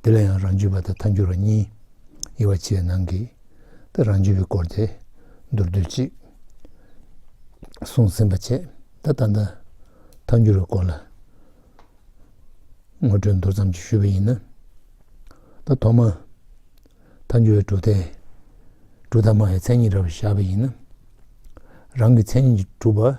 འདི་ལ་ཡང་རང་རྒྱུད་པ་དང་མཐའ་འགྱུར་བ་གཉིས། དབྱེ་བ་སྤྱི་ཡི་ནང་གི། ཏེ་རང་རྒྱུད་པའི་སྐོར་ཏེ། མདོར་བསྡུས་གཅིག། གསུངས་ཟིན་པ་བཅས་ད་ལྟ་འདི། མཐའ་འགྱུར་བའི་སྐོར་ལ། ངོ་སྤྲོད་མདོར་ཙམ་གྱིས་ཞུས་པ་ཡིན་ན། ད་ཐོག་མ། མཐའ་འགྱུར་བའི་གྲུབ་མཐའི། གྲུབ་མཐའ་སྨྲ་བའི་མཚན་ཉིད་འདྲ་བར་བཞག་པ་ཡིན་ན། རང་གི་མཚན་ཉིད་ཀྱི་གྲུབ་པ།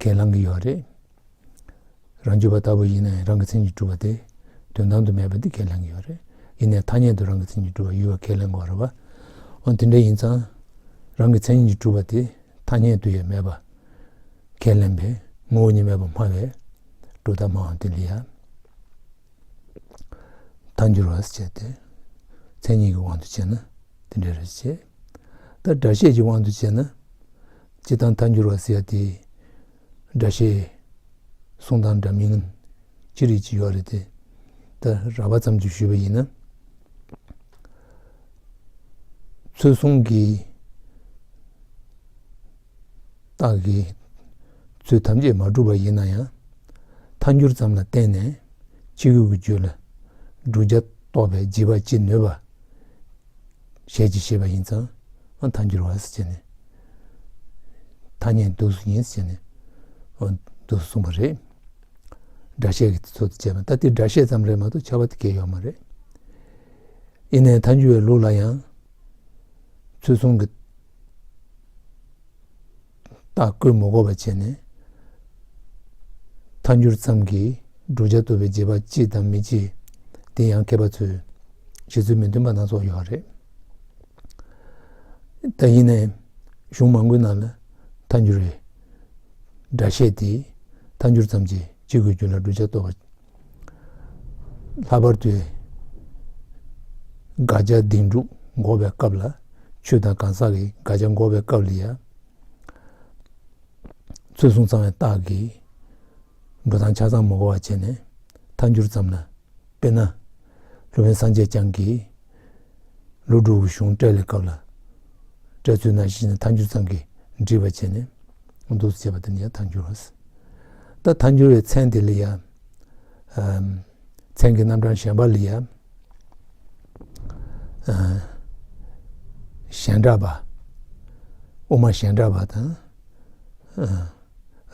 ཁས་བླང་གི་ཡོད་རེད། རང་རྒྱུད་པ་ལྟ་བུ་ཡིན་ན་ཡང་རང་གི་མཚན་གྱིས་གྲུབ་པ་དེ་དོན་དམ་དུ་མེད་པ་འདི་ཁས་ལེན་གི་ཡོད་རེད། ཡིན་ནའི་ཐ་སྙད་དུ་རང་གི་མཚན་གྱིས་གྲུབ་པ་ཡོད་པ་ཁས་ལེན་དགོས་རེད་པ། འོན་དེ་འདྲ་ཡིན་ཙང། རང་གི་མཚན་གྱིས་གྲུབ་པ་དེ་ཐ་སྙད་དུ་ཡང་མེད་པ་ཁས་ལེན་པའི་ངོ་བོ་ཉིད་མེད་པ་སྨྲ་བའི་སྒྲོ་བཏགས་སྨྲའང་དེ་ལ་ཡང་མཐའ་འགྱུར་བར་བྱེད་དེ། མཚན་ཉིད་ཀྱི་དབང་དུ་བྱས་ན་དེ་འདྲ་རེད། ཅེས་དང། སྒྲ་བཤད་ཀྱི་དབང་དུ་བྱས་ན། སྤྱི་དང་མཐའ་འགྱུར་བ་ཟེར་ཡ་དེ། སྒྲ་བཤད། གསུང་དང་འདྲ་མིན། ཅི་རིགས་ཀྱི་ཡོད་རེད་དེ། ད་ར་བ་ཙམ་གྱིས་ཞུས་པ་ཡིན་ན། ཚུལ་གསུམ་གྱི། རྟགས་ཀྱི། ཚུལ་ཐམས་ཅད་མ་གྲུབ་པ་ཡིན་ན་ཡང། མཐའ་འགྱུར་ཙམ་ལ་བརྟེན་ནས་ཕྱི་རྒྱུད་ཀྱི་རྒྱུད་ལ། བསྒྲུབ་བྱ་རྟོགས་པའི་བགྱི་བ་ཅི་ནུས་པ། ཞལ་གྱིས་བཞེས་པ་ཡིན་ཙང་ཐ་སྒྱུར་བ་སུ་བྱས་ནས། ཐ་སྙད་བསྡུ་སུ་ཡིན་ཟེར་ནས་བསྡུ་སུ་གསུངས་པ་རེད། སྒྲ་བཤད་ཀྱི་ཚུལ་དུ་བྱས་པ་ད་ལྟའི་སྒྲ་བཤད་ཙམ་རེད་མ་གཏོགས་བྱ་བ་དེ་འགལ་ཡོད་མ་རེད། ཡིན་ནའི་ཐ་སྒྱུར་བའི་ལུགས་ལ་ཡང་ཚུལ་གསུམ་གྱི། བརྟག་བཀོད་མོ་འགོར་བ་བྱས་ནས། མཐའ་འགྱུར་ཙམ་གྱིས་བསྒྲུབ་བྱ་བཏུ་བའི་རྗེས་པ་ཅི་དང་མི་ཅི། དེ་ཡང་མཁས་པ་ཚོས་བཞེད་ཚུལ་མི་མཐུན་པ་སྣ་ཚོགས་ཡོད་རེད། ད་ཡིན་ནས་གཞུང་མང་པོའི་ནང་ལ་མཐའ་འགྱུར་བའི་སྒྲ་བཤད་དེ། མཐའ་འགྱུར་ཙམ་གྱིས་ཅི་དགོས་རྒྱུ་ལ་བསྒྲུབ་བྱ་བཏུ་བ་ལྷག་པར་དུ་དགག་བྱ་སྡིག་འཇུག་འགོག་པའི་སྐབས་ལ་ཆོས་དང་གང་ཟག་གི་དགག་བྱ་འགོག་པའི་སྐབས་ལ་ཡང་རྩོད་གསུངས་ཚང་བའི་རྟགས་ཀྱིས་འགྲོ་དང་ཆ་ཚང་མ་གོ་བར་བྱས་ནས་མཐའ་འགྱུར་ཙམ་ལ་དཔེར་ན། སློབ་དཔོན་སངས་རྒྱས་བསྐྱངས་ཀྱིས་ལུགས་འགྲོ་བའི་གཞུང་སྤྲེལ་ལས་བཀབ་ལ། སྤྲེལ་ཚོས་ན་གཞི་ནས་མཐའ་འགྱུར་ཙམ་གྱིས་འདྲིས་པར་བྱས་ནས་འདུག་ཅེས་པ་དེ་ནི་ཡང་མཐའ་འགྱུར་རོ། ད་མཐའ་འགྱུར་བའི་མཚན་དེ་ལས་ཡང། མཚན་གྱི་རྣམ་གྲངས་གཞན་པ་ལས་ཡང། གཞན་འདྲ་བ། དབུ་མ་གཞན་འདྲ་བ་དང།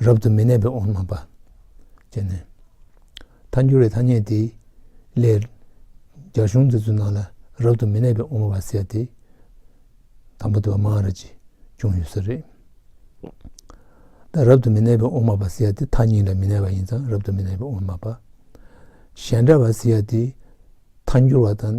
རབ་ཏུ་མི་གནས་པའི་དབུ་མ་པ། ཅེས་ནས། མཐའ་འགྱུར་བའི་ཐ་སྙད་དེ་ལས། རྒྱ་གཞུང་འཛིན་ཚུལ་ནང་ལ་རབ་ཏུ་མི་གནས་པའི་དབུ་མ་བ་བསལ་ཏེ། དང་པོ་དེ་བ་མངས་ར་ཅེས་ཀྱང་ཡོད་ས་རེད། ད་རབ་ཏུ་མི་གནས་པའི་དབུ་མ་བ་བསལ་ཏེ་མཐའ་གཉིས་ལ་མི་གནས་པ་ཡིན་ཙང་རབ་ཏུ་མི་གནས་པའི་དབུ་མ་པ། གཞན་འདྲ་བ་བསལ་ཏེ། མཐའ་འགྱུར་བ་དང།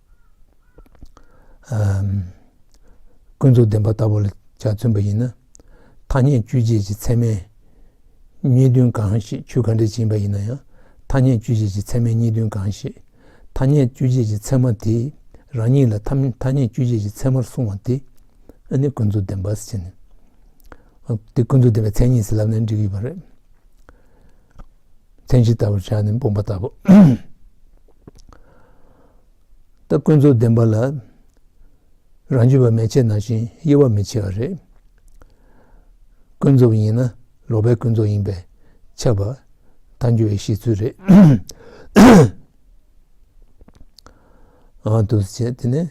ཀུན་རྫོབ་བདེན་པ་ལྟ་བུ་ལ་བྱ་མཚོན་པ་ཡིན་ན། ཐ་སྙད་བཅུད་བྱས་ཀྱི་ཚད་མས་གཉིས་བདུན་གང་ཞིག་ཆུ་ག་འདྲེ་བྱིན་པ་ཡིན་ན་ཡང་ཐ་སྙད་བཅུད་བྱས་ཀྱི་ཚད་མས་གཉིས་བདུན་གང་ཞིག་ཐ་སྙད་བཅུད་བྱས་ཀྱི་ཚད་མ་དེས་རང་ཉིད་ལ་ཐ་སྙད་བཅུད་བྱས་ཀྱི་ཚད་མར་བཟུང་བ་དེ་ནི་ཀུན་རྫོབ་བདེན་པ་ཟེར། དེ་ཀུན་རྫོབ་བདེན་པའི་མཚན་ཉིད་ཟེར་ལབ་ནས་འགྲིག་གི་ཡོད་པ་རེད། མཚན་གཞི་ལྟ་བུར་བྱ་ནི་སྤུངས་པ་ལྟ་བུ། ད་ཀུན་རྫོབ་བདེན་པ་ལ་རང་རྒྱུད་པ་མེད་ཕྱིར་ན་བཞིན་དབྱེ་བ་མི་ཕྱེད་པ་རེད། ཀུན་རྫོབ་ཡིན་ན་ལོག་པའི་ཀུན་རྫོབ་ཡིན་པས་ཆགས་པ་མཐའ་འགྱུར་བའི་གཞི་ཚུལ་རེད། ཨང་དུ་བྱས་དེ་ནས་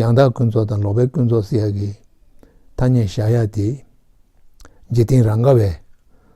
ཡང་དག་ཀུན་རྫོབ་དང་ལོག་པའི་ཀུན་རྫོབ་སྲིད་ཡ་གི་ཐ་སྙད་བཞག་ཡ་དེ། འཇིག་རྟེན་རང་དགའ་བའི།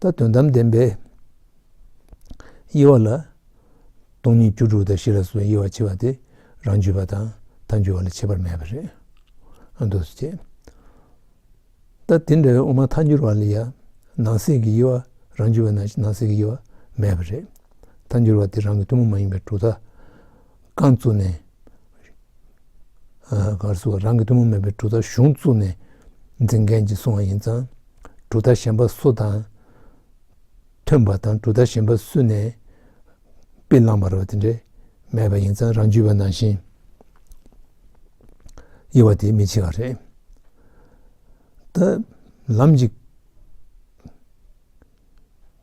ལྟ། དོན་དམ་བདེན་པའི་དབྱེ་བ་ལ། སྟོང་ཉིད་རྒྱུ་དྲུག་དང་བཞི་ལ་སོགས་དབྱེ་བ་ཕྱེ་བ་དེ་རང་རྒྱུད་པ་དང་ཐ་འགྱུར་བ་ལ་ཁྱད་པར་མེད་པ་རེད། ཨ་མདོ་སུ་ཁྱད། ལྟ། དེ་འདྲ་བའི་དབུ་མ་ཐ་འགྱུར་བ་ལ་ཡང་ནང་གསེས་ཀྱི་དབྱེ་བ་རང་རྒྱུད་པ་ན་ནང་གསེས་ཀྱི་དབྱེ་བ་མེད་པ་རེད། ཐ་འགྱུར་བ་དེ་རང་གི་ཐུན་མོང་མ་ཡིན་པའི་དྲུག་དང། རྐང་བཙུགས་ནས། གར་བཟོ་བ་རང་གི་ཐུན་མོང་མིན་པའི་གྲུ་ཐག་གཞུང་བཙུགས་ནས་འཛིན་མཁན་གྱིས་བཟུང་བ་ཡིན་ཙང། གྲུ་ཐག་གཞན་པ་སུ་དང་མཐུན་པ་དང་གྲུ་ཐག་གཞན་པ་སུས་ནས་པི་བླངས་པར་བ་དེ་འདྲས་མེད་པ་ཡིན་ཙང་རང་བྱུས་པ་ནང་བཞིན་དབྱེ་བ་དེ་མི་ཆེ་བ་རེད། ད་ལམ་གྱི།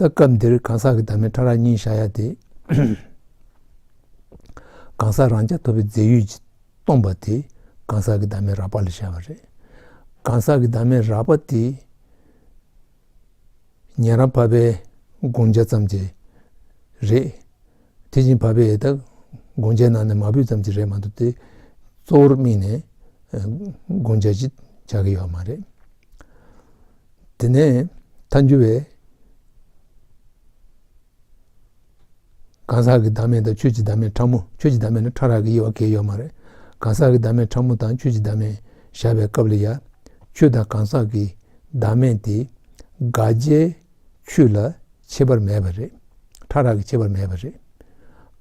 ད་སྐབས་འདིར་གང་ཟག་གི་བདག་མེད་ཕྲ་རགས་གཉིས་བཞག་ཡ་དེ། གང་ཟག་རང་ཅག་ཐོབ་པའི་རྫས་ཡུལ་གྱིས་སྟོང་པ་དེ་གང་ཟག་གི་བདག་མེད་རགས་པ་ལ་བཞག་པ་རེད། གང་ཟག་གི་བདག་མེད་རགས་པ་དེ་ཉན་རང་བབས་པའི་དགོངས་འཆར་ཙམ་གྱིས་རེད། དེ་བཞིན་བབས་པའི་དགོངས་འཆར་ནང་ནས་མ་བུད་ཙམ་གྱིས་རེད་མ་འདུག་སྟེ། གཙོ་བོར་དམིགས་ནས་དགོངས་འཆར་ཅིག་བྱ་གི་ཡོད་མ་རེད། དེ་ནས་ད་འགྱུར་བའི་གང་ཟག་གི་བདག་མེད་དང་ཆོས་ཀྱི་བདག་མེད་ཕྲ་མོ་ཆོས་ཀྱི་བདག་མེད་ནི་ཕྲ་རགས་ཀྱི་དབྱེ་བ་འགལ་ཡོད་མ་རེད། གང་ཟག་གི་བདག་མེད་ཕྲ་མོ་དང་ཆོས་ཀྱི་བདག་མེད་བཞག་པའི་སྐབས་ལ་ཡང་ཆོས་དང་གང་ཟག་གི་བདག་མེད་དེ་དགག་བྱའི་ཆོས་ལ་ཁྱད་པར་མེད་པ་རེད། ཕྲ་རགས་ཀྱི་ཁྱད་པར་མེད་པ་རེད།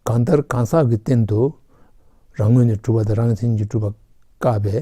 གང་ལྟར་གང་ཟག་གི་སྟེང་དུ་རང་ངོས་ནས་གྲུབ་པ་དང་རང་མཚན་གྱིས་གྲུབ་པ་བཀག་པའི།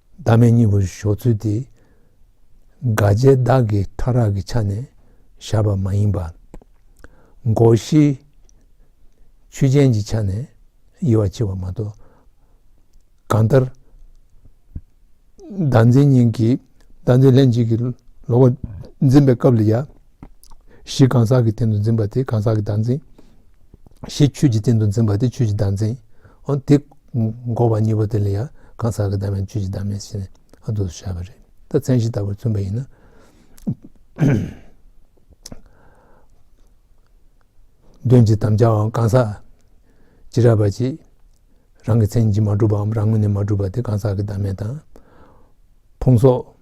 བདག་མེད་གཉིས་པོར་ཞོག་ཚུལ་དེ། དགའ་བྱེད་བདག་གི་ཕྲ་རགས་ཀྱི་ཆ་ནས་བཞག་པ་མ་ཡིན་པར། སྒོ་བཞིའི་ཆོས་ཅན་གྱི་ཆ་ནས་དབྱེ་བ་ཕྱེ་བ་མ་གཏོགས། གང་ལྟར། བདག་འཛིན་གཉིས་ཀྱིས་བདག་འཛིན་ལྷན་ཅིག་གི་ལོག་པར་འཛིན་པའི་སྐབས་ལ་ཡང། གཞི་གང་ཟག་གི་སྟེང་དུ་འཛིན་པ་དེ་གང་ཟག་གི་བདག་འཛིན། གཞི་ཆོས་ཀྱི་སྟེང་དུ་འཛིན་པ་དེ་ཆོས་ཀྱི་བདག་འཛིན། དེ་འགོག་པ་གཉིས་པོ་དེ་ལ་ཡང་གང་ཟག་གི་བདག་མེད་ཆོས་ཀྱི་བདག་མེད་ཅེས་ནི་དུ་བྱ་བ་རེད། ད་མཚན་གཞི་ལྟ་བུར་མཚོན་པ་ཡིན་ན། དོན་གྱི་དམ་བཅའང་གང་ཟག་ཇི་རགས་པ་གཅིག་རང་གི་མཚན་གྱིས་མ་གྲུབ་པའམ་རང་ངོས་ནས་མ་གྲུབ་པ་དེ་གང་ཟག་གི་བདག་མེད་དང། ཕུང་སོགས།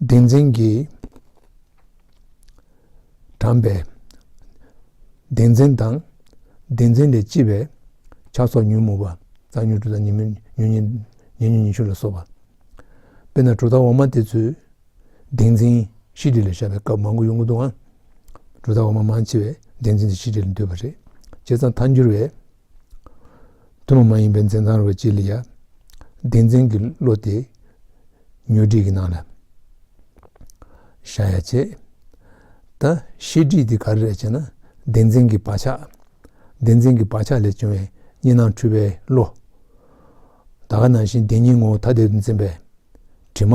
བདེན་འཛིན་གྱིས་དྲངས་པའི་བདེན་འཛིན་དང་བདེན་འཛིན་ལས་ལྕི་བའི་ཆགས་སོགས་ཉོན་མོངས་པ་རྩ་ཉོན་དྲུག་དང་ཉེ་མོ་ཉོན་ཉེ་ཉེ་ཉོན་ཉེ་ཤུ་ལ་སོགས་པ་དཔེར་ན་དྲུག་དང་འོག་མ་དེ་ཚོས་བདེན་འཛིན་བཞི་བསྒྲིལ་ལ་བཞག་པའི་སྐབས་མང་པོ་ཡོང་གི་འདུག་ཨང། དྲུག་དང་འོག་མ་མང་ཆེ་བས་བདེན་འཛིན་དེ་བཞི་བསྒྲིལ་ལ་འདོད་པ་རེད། བྱས་ཙང་མཐའ་འགྱུར་བས། ཐུན་མོང་མ་ཡིན་པའི་འཛིན་སྟངས་རོ་གཅིག་ལ་ཡང། བདེན་འཛིན་གྱི་བློ་དེ་ཉོན་སྒྲིག་གི་ནང་ལ་བཞག་ཡ་བྱེད། ད་ཤེས་སྒྲིག་དེ་ག་རེ་རེད་ཅེ་ན་བདེན་འཛིན་གྱི་བག་ཆགས། བདེན་འཛིན་གྱི་བག་ཆགས་ལས་བྱུང་བའི་གཉིས་སྣང་འཁྲུལ་པའི་བློ། ད་ག་ནང་བཞིན་བདེན་གཉིས་ངོ་བོ་ཐ་དད་དུ་འཛིན་པའི་དྲི་མ།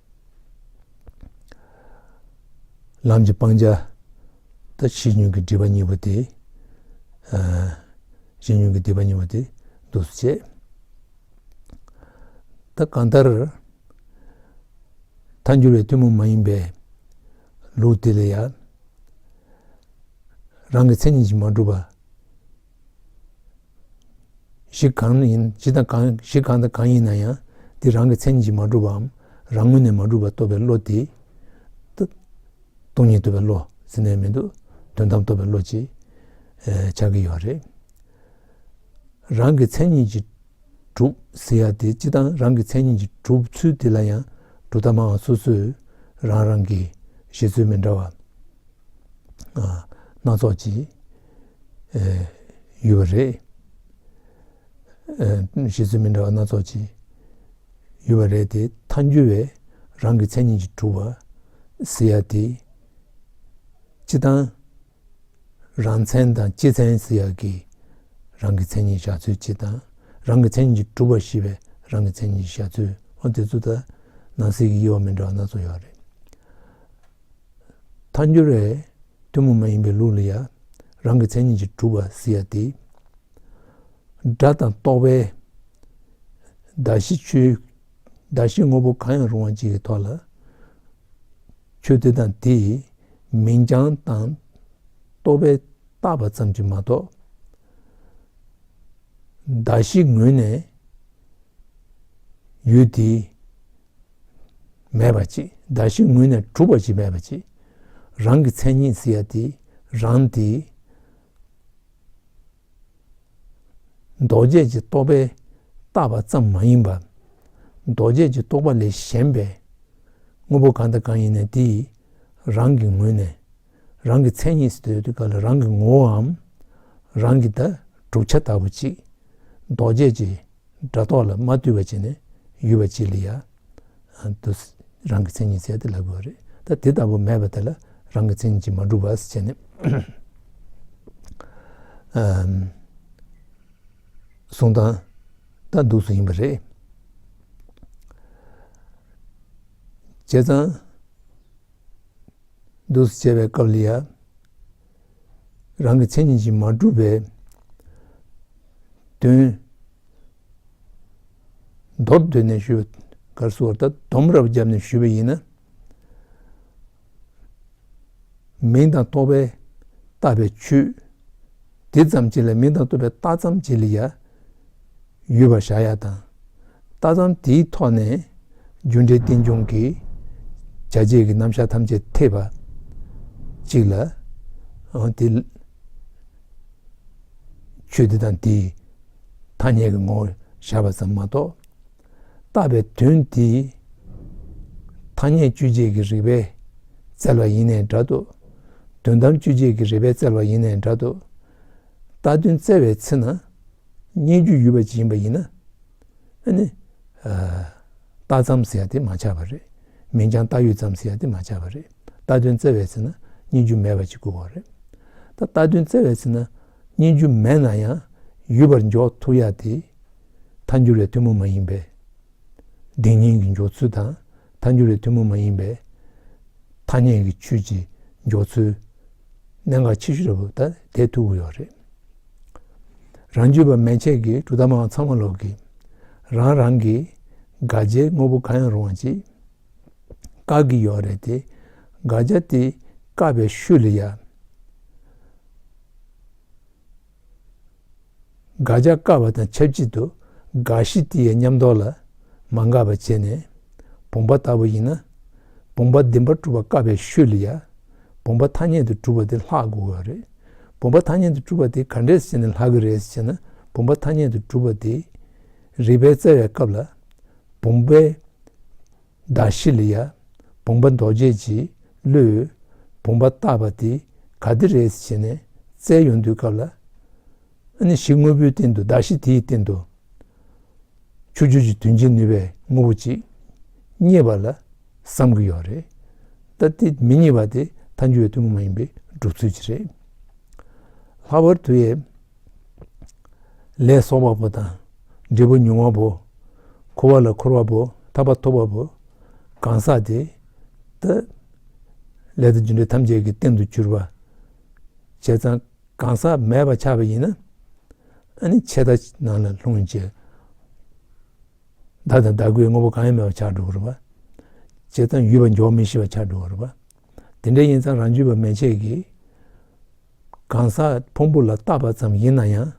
ལམ་གྱི་སྤང་བྱ་དང་ཕྱིས་མྱོང་གི་སྒྲིབ་པ་གཉིས་པོ་དེ། ཕྱིས་མྱོང་གི་སྒྲིབ་པ་གཉིས་པོ་དེ་འདུ་སོ་བྱེད། ད་གང་ལྟར་མཐའ་འགྱུར་བའི་ཐུན་མོང་མ་ཡིན་པའི་ལུགས་འདི་ལ་ཡང་རང་གི་མཚན་ཉིད་ཀྱིས་མ་གྲུབ་པ། གཞི་གང་ཡིན་གཞི་དང་གང་གཞི་གང་དང་གང་ཡིན་ན་ཡང་དེ་རང་གི་མཚན་ཉིད་ཀྱིས་མ་གྲུབ་པའམ་རང་ངོ་ནས་མ་གྲུབ་པ་རྟོགས་པའི་བློ་དེ། སྟོང་ཉིད་རྟོགས་པའི་བློ་ཟེར་ནའི་མི་འདུག་དོན་དམ་རྟོགས་པའི་བློ་ཅེས་བྱ་གི་ཡོད་པ་རེད། རང་གི་མཚན་ཉིད་ཀྱིས་གྲུབ་ཟེར་ཡ་དེ་སྤྱི་དང་རང་གི་མཚན་ཉིད་ཀྱིས་གྲུབ་ཚུལ་དེ་ལ་ཡང་གྲུབ་མཐའ་མང་བ་སོ་སོས་རང་རང་གི་བཞེད་ཚུལ་མི་འདྲ་བ་སྣ་ཚོགས་ཀྱིས་ཡོད་པ་རེད། གཞི་རྩའི་མི་འདྲ་བ་སྣ་ཚོགས་ཀྱི་ཡོད་པ་རེད་དེ་མཐའ་འགྱུར་བས་རང་གི་མཚན་ཉིད་ཀྱི་གྲུབ་པ་ཟེར་ཡག་དེ། སྤྱི་དང། རང་མཚན་དང་སྤྱི་མཚན་ཟེར་ཡག་གི་རང་གི་མཚན་ཉིད་བཞག་ཚུལ་སྤྱི་དང། རང་གི་མཚན་ཉིད་ཀྱི་གྲུབ་པ་ཤེས་པའི་རང་གི་མཚན་ཉིད་བཞག་ཚུལ་ཨོ་དེ་ཚོ་ད་ནང་གསེས་ཀྱི་དབྱེ་བ་མི་འདྲ་བ་སྣ་ཚོགས་ཡོད་རེད། མཐའ་འགྱུར་བས་གཏུམ་མོ་མ་ཡིན་པའི་ལུགས་ལ་ཡང་རང་གི་མཚན་ཉིད་ཀྱིས་གྲུབ་པར་གཟིགས་ཡ་སྟེ། སྒྲ་དང་རྟོག་པའི་གདགས་གཞི་ཆོས་གདགས་གཞི་དངོས་པོ་གང་ཡང་རུང་བ་གཅིག་གི་ཐོག་ལ་ཆོས་དེ་དང་དེའི་མིང་རྐྱང་དང་རྟོག་པས་བཏགས་པ་ཙམ་གྱིས་མ་གཏོགས། གདགས་གཞི་ངོས་ནས་ཡུལ་དེའི། མེད་པར་གཅིག་བདག་གཞི་ངུས་ནས་གྲུབ་པ་ཅིག་མེད་པར་གཅིག། རང་གི་མཚན་ཉིད་ཟེར་ཡ་དེ་རང་དེ། རྡོ་རྗེ་ཀྱི་རྟོག་པས་བཏགས་པ་ཙམ་མ་ཡིན་པར། རྡོ་རྗེ་ཀྱི་རྟོག་པ་ལས་གཞན་པའི་དངོས་པོ་གང་དང་གང་ཡིན་ནས་དེ་རང་གི་ངོས་ནས་རང་གི་མཚན་ཉིད་ཟེར་དུས་དེ་ག་ལ་རང་གི་ངོ་བོའམ་རང་གི་བདག་གྲུབ་ཆ་ལྟ་བུ་གཅིག་རྡོ་རྗེ་ཀྱི་སྒྲ་རྟོག་ལ་མ་བརྟུལ་བ་བྱས་ནས་ཡུལ་བ་ཅི་ལ་ཡ། དུ། རང་གི་མཚན་ཉིད་བཙལ་ཏེ་ལབ་དགོས་པ་རེད། ད་དེ་ལྟ་བུ་མེད་པ་དེ་ལ་རང་གི་མཚན་ཉིད་ཀྱིས་མ་གྲུབ་བ་བྱས་ནས། གཟུང་དང། ལྟ་འདུག་སུ་ཡིན་པ་རེད། བྱས་ཙང། འདུག་བྱས་པའི་སྐབས་ལ་ཡ། རང་གི་མཚན་ཉིད་ཀྱིས་མ་གྲུབ་པའི་དོན། མདོར་བསྡུས་ནས་ཞུས་པ། གར་སོང་བར་ད་དོམ་རབ་བརྒྱབ་ནས་ཞུས་པ་ཡིན་ན། མིང་དང་རྟོག་པས་བཏགས་པའི་ཆུ། དེ་ཙམ་གྱིས་ལ་མིང་དང་རྟོག་པས་བཏགས་ཙམ་གྱིས་ལ་ཡ། ཡོད་པར་བཞག་ཡ་དང། ལྟ་སྟངས་དེའི་ཐོག་ནས་རྒྱུ་འབྲས་རྟེན་འབྱུང་གི་བྱ་བྱེད་ཀྱི་རྣམ་གཞག་ཐམས་ཅད་ཐེག་པ་གཅིག་ལ། དེ་ཆོས་དེ་དང་དེའི་ཐ་སྙད་ཀྱི་ངོ་བོར་བཞག་པ་ཙམ་མ་གཏོགས། བཏགས་པའི་དོན་དེ་ཐ་སྙད་དཔྱོད་བྱེད་ཀྱི་རིགས་པས་བཙལ་བ་ཡིན་ནའི་འདྲ་དུ། དོན་དམ་དཔྱོད་བྱེད་ཀྱི་རིགས་པས་བཙལ་བ་ཡིན་ནའི་འདྲ་དུ། བཏགས་དོན་བཙལ་བའི་ཚེ་ན། སྙན་བརྒྱུད་ཡུལ་བ་སྦྱིན་པ་ཡིན། ཨ་ནི། རྟ་ཙམ་ཟེར་ཏེ་མ་ཆགས་པ་རེད། མིན་ཀྱང་རྟ་ཡོད་ཙམ་ཟེར་ཏེ་མ་ཆགས་པ་རེད། རྟ་དོན་བཙལ་བའི་ཚེ་ན་སྙན་བརྒྱུད་མེད་པ་ཅིག་དགོས་བ་རེད། ད་རྟ་དོན་བཙལ་བའི་ཚེ་ན་སྙན་བརྒྱུད་མེད་ན་ཡང་ཡུལ་བར་འཇོག་ཐུབ་ཡ་དེ། མཐའ་འགྱུར་བའི་ཐུན་མོང་མ་ཡིན་པས། བདེན་གཉིས་ཀྱི་འཇོག་ཚུལ་དང་ཐ་འགྱུར་བའི་ཐུན་མོང་མ་ཡིན་པའི་ཐ་སྙད་ཀྱི་ཆོས་ཀྱི་འཇོག་ཚུལ། གནད་འགག་ཆེ་ཤོས་རེད་དེ་ཐུག་གི་ཡོད་རེད། རང་རྒྱུད་པ་མན་ཆད་ཀྱི་གྲུབ་མཐའ་མང་ཚང་མ་ལོག་གི་རང་རང་གི་དགག་བྱའི་དངོས་པོ་གང་ཡང་རུང་བ་ཅིག་བཀག་གི་ཡོད་རེད་དེ་དགག་བྱ་དེ་བཀག་པའི་ཤུལ་ལ་ཡ། དགག་བྱ་བཀག་པ་དང་ཆབས་ཅིག་ཏུ་དགག་གཞི་དེ་ཡི་ཉམས་རྟོགས་ལ་མ་འགག་པར་བྱས་ནས། བུམ་པ་ལྟ་བུ་ཡིན་ན། བུམ་པ་བདེན་པར་གྲུབ་པ་བཀག་པའི་ཤུལ་ལ་ཡ། བུམ་པ་ཐ་སྙད་དུ་གྲུབ་པ་དེ་ལྷག་དགོས་པ་རེད། བུམ་པ་ཐ་སྙད་དུ་གྲུབ་པ་དེ་ག་འདྲས་ཟེར་ནས་ལྷག་གི་རེད་ཟེར་ན་བུམ་པ་ཐ་སྙད་དུ་གྲུབ་པ་དེ། རིགས་པའི་རྩ་བའི་སྐབས་ལ་བུམ་པའི། བདག་ཤཱི་ལ་ཡ། བུང་བ་མདོ་བྱས་ཀྱིས་བསླུས། བུང་བ་བཏགས་པ་དེ་ག་དེ་རེད་བྱས་ནས་བཙལ་ཡོང་དུས་སྐབས་ལ། ཨཱ་ནི་ཤི་དངོས་པོའི་སྟེང་དུ་བདག་ཤི་དེའི་སྟེང་དུ། ཆུ་རྒྱུས་ཀྱི་དོན་བྱེད་ནུས་པའི་དངོས་པོ་ཅིག་རྙེད་པ་ལ་བསམ་གྱི་ཡོད་རེད། ད་དེ་མི་རྙེད་པ་དེ་མཐའ་འཁྱོལ་བའི་ཐུན་མོང་མ་ཡིན་པའི་སྒྲུབ་ཚུལ་གྱིས་རེད། ལྷག་པར་དུ་ཡའི་ལས་སོགས་པ་པོ་དང། འབྲས་བུ་མྱོང་བ་པོ། འཁོར་བ་ལ་འཁོར་བ་པོ་ཐར་པ་ཐོབ་པ་པོ། གང་ཟག་དེ། ལྟ་ལས་དང་རྒྱུ་འབྲས་ཐམས་ཅད་ཀྱི་རྟེན་དུ་གྱུར་པ། བྱས་ཙང་གང་ཟག་མེད་པར་ཆགས་པ་ཡིན་ན། ཨ་ནི་ཆད་ལྟ་ནང་ལ་ལྷུང་བྱས། བདག་དང་བདག་གོའི་དངོས་པོ་གང་ཡང་མེད་པར་ཆགས་འགྲོ་གི་རུང་བ། བྱས་ཙང་ཡུལ་བ་འཇོག་མི་ཤེས་པར་ཆགས་འགྲོ་གི་རུང་བ། དེ་འདྲ་ཡིན་ཙང་རང་རྒྱུད་པ་མན་ཆད་ཀྱིས། གང་ཟག་ཕུང་པོ་ལ་བཏགས་པ་ཙམ་ཡིན་ན་ཡང།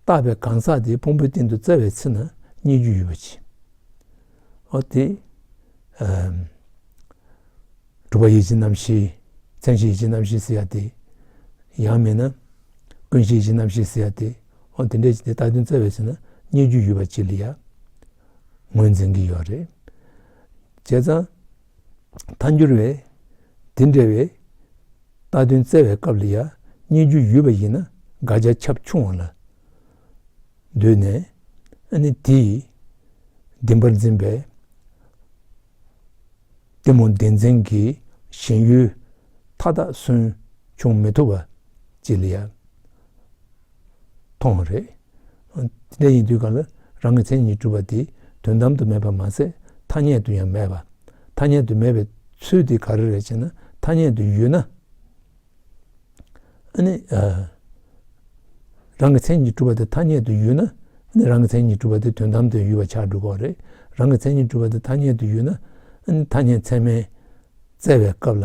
བཏགས་པའི་གང་ཟག་དེ་ཕུང་པོའི་སྟེང་དུ་བཙལ་བའི་ཚེ་ན་རྙེད་རྒྱུ་ཡོད་པ་ཇི། ཨོ་དེ། གྲུབ་པ་ཡིད་བྱེད་རྣམ་ཤེས་མཚན་བྱེད་ཡིད་བྱེད་རྣམ་ཤེས་ཟེར་ཡ་དེ། ཡང་མེད་ན། ཀུན་བྱེད་ཡིད་བྱེད་རྣམ་ཤེས་ཟེར་ཡ་དེ། ཨོ་དེ་འདྲའི་དེ་བཏགས་དོན་བཙལ་བའི་ཚེ་ན་རྙེད་རྒྱུ་ཡོད་པ་ཇི་ལ་ཡང། ངོས་འཛིན་གྱི་ཡོད་རེད། བྱས་ཙང། མཐའ་འགྱུར་བས། འདི་འདྲ་བའི། རྟ་བདུན་བཙལ་བའི་སྐབས་ལ་ཡང་སྙན་བརྒྱུད་ཡོད་པ་ཡིན་ན་དགག་བྱ་ཁྱབ་ཆུང་བ་ལ་འདོད་ནས། ཨ་ནི་དེ་ཡིས། བདེན་པར་འཛིན་པའི། བདེ་མོ་བདེན་འཛིན་གྱི་ཞེན་ཡུལ་མཐའ་དག་སུན་ཕྱུང་མི་ཐུབ་པ་ཅི་ལ་ཡ། ཐོག་མ་རེད། དེ་ཡིན་དུས་གང་ལ་རང་གི་མཚན་ཉིད་གྲུབ་པ་དེ་དོན་དམ་དུ་མེད་པར་མ་ཟད་ཐ་སྙད་དུ་ཡང་མེད་པ། ཐ་སྙད་དུ་མེད་པའི་ཚུལ་དེ་ག་རེ་རེད་ཅེ་ན་ཐ་སྙད་དུ་ཡོད་ན། རང་གི་མཚན་ཉིད་གྲུབ་པ་དེ་ཐ་སྙད་དུ་ཡོད་ན། རང་གི་མཚན་ཉིད་གྲུབ་པ་དེ་དོན་དམ་དུ་ཡོད་པ་ཆགས་འགྲོ་གོ་རེད། རང་གི་མཚན་ཉིད་གྲུབ་པ་དེ་ཐ་སྙད་དུ་ཡོད་ན། ཐ་སྙད་ཚད་མས་བཙལ་བའི་སྐབས་ལ།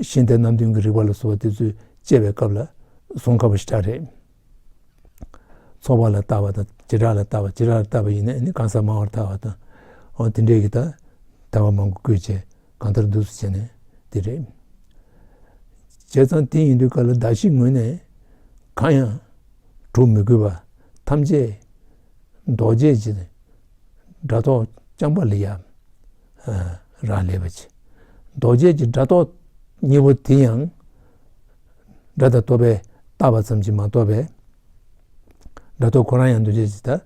གཞན་དེ་རྣམས་དོན་གྱི་རིགས་པ་ལ་སོགས་པ་དེ་ཚོས་དཔྱད་པའི་སྐབས་ལ་གཟུང་དཀའ་བ་ཞིག་ཀྱང་རེད། ཚོགས་པ་ལ་བརྟག་པ་དང་བྱེ་བྲག་ལ་བརྟག་པ་བྱེ་བྲག་ལ་བརྟག་པ་ཡིན་ན་གང་ཟག་མང་བར་ཐལ་བ་དང། འོན་ཏེ་འབྲས་ཀྱི་དག་ཐལ་བ་མང་པོ་བཀོད་བྱས་གང་ལྟར་འདུག་ཟེར་ནས་དེ་རེད། བྱས་ཙང་དེ་ཡིན་དུས་ག་ལ་གདགས་གཞིའི་ངོས་ནས་གང་ཡང་གྲུབ་མི་དགོས་པ་ཐམས་ཅད་རྡོ་རྗེ་ཀྱི་སྒྲ་རྟོག་རྐྱང་པ་ལས་ཡ། རག་ལས་པ་ཆེ། རྡོ་རྗེ་ཀྱི་སྒྲ་རྟོག་གཉིས་པོ་དེ་ཡང་སྒྲ་དང་རྟོག་པས་བརྟགས་པ་ཙམ་གྱིས་མ་རྟོགས་པས། སྒྲ་རྟོག་ཁོ་རང་ཡང་འདུ་བྱེད་ཀྱི་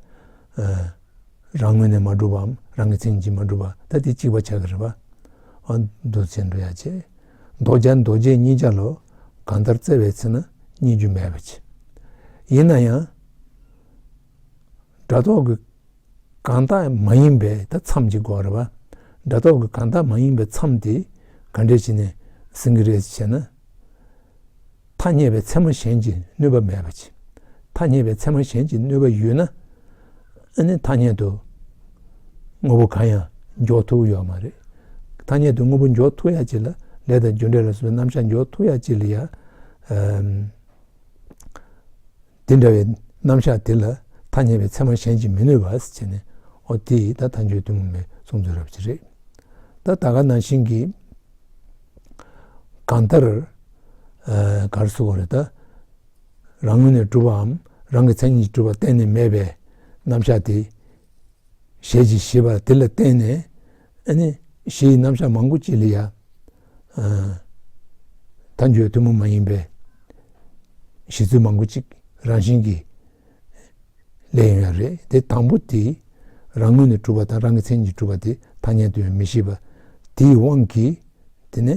རང་ངོས་ནས་མ་གྲུབ་བམ་རང་གི་མཚན་ཉིད་ཀྱིས་མ་གྲུབ་པ་ད་དེ་གཅིག་པ་ཆགས་ཀྱི་རེད་པ། འདུ་བྱེད་འདུ་ཡ་བྱེད་རྡོ་རྗེ་རྡོ་རྗེ་གཉིས་ཆ་ལོ་གང་ལྟར་བརྩེ་བའི་ཚེ་ན་གཉིས་རྒྱུ་མེད་པ་ཆེ། ཡིན་ན་ཡང། དྲ་ཐོག་གི་གང་དག་མ་ཡིན་པའི་ད་མཚམས་ཅིག་གོ་རེད་བ། དྲ་ཐོག་གི་གང་དག་མ་ཡིན་པའི་མཚམས་དེ་ག་འདྲས་བྱས་ནས་ཟིན་གྱི་རེད་ཅེ་ན། ཐ་སྙད་པའི་ཚད་མ་གཞན་གྱི་གནོད་པ་མེད་པ་ཅི། ཐ་སྙད་པའི་ཚད་མ་གཞན་གྱི་གནོད་པ་ཡོད་ན། ཨ་ནི་ཐ་སྙད་དུ་དངོས་པོ་གང་ཡང་འཇོག་ཐུག་ཡོད་མ་རེད། ཐ་སྙད་དུ་དངོས་པོ་འཇོག་ཐུག་ཡ་ཅི་ལ་ལས་དང་རྒྱུ་འབྲས་ལ་སོགས་པའི་རྣམ་གཞག་འཇོག་ཐུག་ཡ་ཅི་ལ་ཡ། དེ་འདྲ་བའི་རྣམ་གཞག་དེ་ལ་ཐ་སྙད་པའི་ཚད་མ་གཞན་གྱིས་མི་ནུས་པ་བྱས་ནས་ཨོ་དེ་ད་ལྟ་འགྱོད་གཏུམ་མོ་མེད་གསུང་ཚུལ་རབ་ཆེ་རེད། ད་ད་ག་ནང་བཞིན་གྱི་གང་ལྟར་གར་སོ་གོ་རེ་ད་རང་ངོས་ནས་གྲུབ་པའམ་རང་གི་མཚན་ཉིད་ཀྱིས་གྲུབ་པ་གཏན་ནས་མེད་པའི་རྣམ་གཞག་དེ་ཞལ་གྱིས་བཞེས་པ་དེ་ལ་བརྟེན་ནས་གཞི་ཡི་རྣམ་གཞག་མང་པོ་ཅི་ལ་ཡ། དང་བརྗོད་ཐུན་མོང་མ་ཡིན་པའི། གཞི་ཚུལ་མང་པོ་ཅིག་རང་བཞིན་གྱིས། ལས་ཡོད་རེད་དེ། དང་པོ་དེ། རང་ངོས་ནས་གྲུབ་པ་དང་རང་གི་མཚན་གྱིས་གྲུབ་པ་དེ་ཐ་སྙད་དུ་ཡང་མི་ཤེས་པ། དེའི་དབང་གིས། དེ་ནི།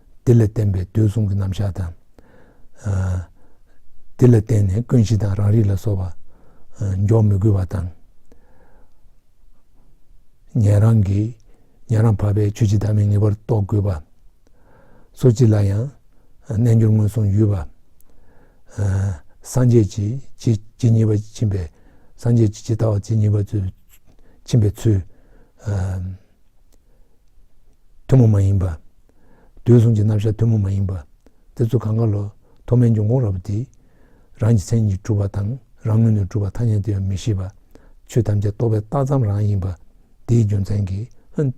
དེ་ལ་བརྟེན་པའི་འདོད་གསུམ་གྱི་རྣམ་གཞག་དང། དེ་ལ་བརྟེན་ནས་ཀུན་གཞི་དང་རང་རིག་ལ་སོགས་པ་འཇོག་མི་དགོས་པ་དང། ཉན་རང་གིས་ཉན་རང་བར་པའི་ཆོས་ཅི་ལྟར་མི་ངེས་པར་རྟོགས་དགོས་པ། སོ་སྤྱི་ལ་ཡང་རྣལ་འབྱོར་སྔོན་སོང་ཡུལ་བ། སངས་རྒྱས་ཀྱི་ཇི་བྱེད་ཉེས་པ་ཕྱིན་པའི་སངས་རྒྱས་ཀྱི་ཇི་ལྟ་བ་བྱེད་ཉེས་པ་ཕྱིན་པའི་ཚུལ། ཐུན་མོང་མ་ཡིན་པ། དུས་གསུམ་གྱི་རྣམ་གཞག་ཐུན་མོང་མ་ཡིན་པ། དེ་ཚུལ་གང་གཱ་ལོ་ཐོག་མའི་འབྱུང་ཁུངས་རབ་འདི། རང་གི་མཚན་ཉིད་གྲུབ་པ་དང་རང་ངོས་ནས་གྲུབ་པ་ཐ་སྙད་དུ་ཡང་མི་ཤེས་པ། ཆོས་ཐམས་ཅད་རྟོག་པའི་རྟགས་ཙམ་རང་ཡིན་པ། འདིའི་རྒྱུ་མཚན་གྱིས།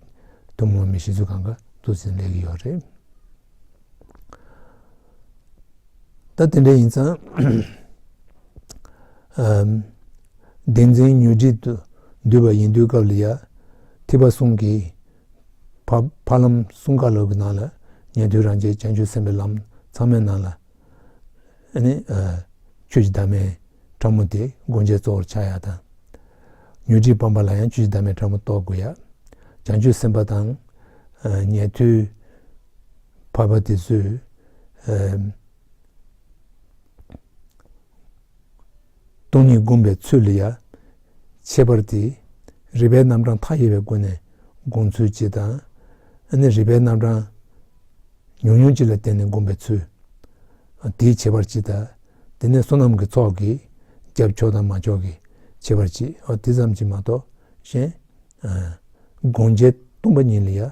ཐུན་མོང་མི་ཤེས་ཚུལ་གང་གཱ་ཏུ་ཟིན་ལེགས་ཀྱི་ཡོད་རེད། ད་དེ་འདྲ་ཡིན་ཙང། བདེན་འཛིན་ཉོན་སྒྲིབ་ཏུ་འདུས་པ་ཡིན་དུས་སྐབས་ལ་ཡ། ཐིགས་པ་གསུང་གིས། བར་ལམ་གསུམ་ཀ་ལོག་གི་ནང་ལ་ཉན་ཐོས་རང་རྒྱལ་བྱང་ཆུབ་སེམས་དཔའི་ལམ་ཚང་མའི་ནང་ལ། ཆོས་ཀྱི་དར་མའི་ཕྲ་མོ་དེ་སྒོ་འབྱེད་གཙོ་བོར་ཆགས་ཡ་དང། ཉོན་སྒྲིག་སྤངས་པ་ལ་ཡང་ཆོས་ཀྱི་དར་མའི་ཕྲ་མོ་གཏོད་དགོས་ཡ། བྱང་ཆུབ་སེམས་དཔའ་དང། ཉན་ཐོས་བར་པ་དེ་ཚོས། སྟོང་ཉིད་བསྒོམ་པའི་ཚུལ་ལ་ཡང་ཁྱད་པར་ཏེ། རིག་པའི་རྣམ་གྲངས་མཐའ་ཡས་པའི་སྒོ་ནས་བསྒོམ་ཚུལ་གྱིས་དང། རིག་པའི་རྣམ་གྲངས་ཉུང་ཉུང་གཅིག་ལ་བརྟེན་ནས་བསྒོམ་པའི་ཚུལ། དེའི་ཁྱད་པར་གྱིས་དང། དེ་ནས་བསོད་ནམས་ཀྱི་ཚོགས་ཀྱི་རྒྱབ་ཕྱོགས་དང་མ་ཕྱོགས་ཀྱི་ཁྱད་པར་གྱིས་དེ་ཙམ་གྱིས་མ་གཏོགས་གཞན། སྒོམ་བྱེད་སྟོང་པ་ཉིད་ལ་ཡང་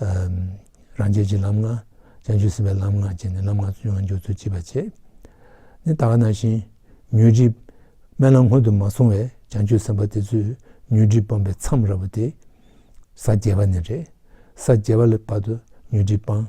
རང་རྒྱལ་གྱི་ལམ་ལྔ། བྱང་ཆུབ་སེམས་དཔའི་ལམ་ལྔ་བཅས་ནི་ལམ་ལྔ་བཅུ་ཡང་འཇོག་ཚུལ་གཅིག་པར་བྱེད། ནི་དག་ན་བཞིན། མྱུར་འགྲིབ། དམན་ལམ་སྔོན་དུ་མ་སོང་བའི་བྱང་ཆུབ་སེམས་དཔའ་དེ་ཚོས་མྱུར་འགྲིབ་སྤངས་པའི་མཚམས་ར་བོ་དེ། ས་བརྒྱད་པ་ནས་རེད། ས་བརྒྱད་པ་ལ་བར་དུ་མྱུར་འགྲིབ་སྤངས།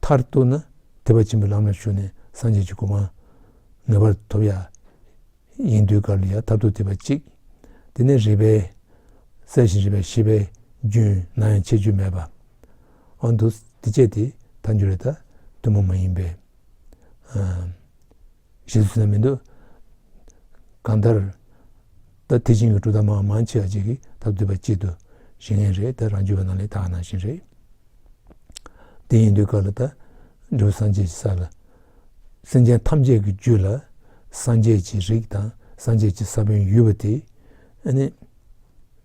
མཐར་གཏུགས་ན་དད་པ་ཆེན་པོའི་ལམ་ལ་ཞུགས་ནས་སངས་རྒྱས་ཀྱི་གོ་འཕང་ངེས་པར་ཐོབ། ཡིན་དུས་གར་ལ་ཡང་མཐར་ཐུག་དེ་བས་གཅིག། དེ་ནས་རིག་པའི་གསལ་ཞིང་རིག་པའི་ཤེས་པའི་རྒྱུན་ན་ཡང་ཆད་ཆོད་མེད་པ། འོན་ཏུ་འདི་སྤྱད་དེ་ཐལ་འགྱུར་བའི་ཐལ། ཐུན་མོང་མ་ཡིན་པའི། ཞེས་སུ་ཟེར་མི་འདོད། གང་ལྟར། ད་ཐེག་ཆེན་གྱི་སྒྲུབ་ཐབས་མང་མང་ཆེ་བ་གཅིག་གིས་ཐབས་བསྡུས་པ་གཅིག་ཏུ་བཞེངས་ངེས་རེད་དེ་རང་རྒྱུད་པ་ནང་ལས་དག་ནང་བཞིན་རེད། དེ་ཡིན་དུས་སྐབས་ལ་ད་འབྲས་བུ་སངས་རྒྱས་ཀྱི་ས་ལ། སེམས་ཅན་ཐམས་ཅད་ཀྱི་རྒྱུད་ལ་སངས་རྒྱས་ཀྱི་རིགས་དང་སངས་རྒྱས་ཀྱི་ས་བོན་ཡོད་པ་དེ་ནི།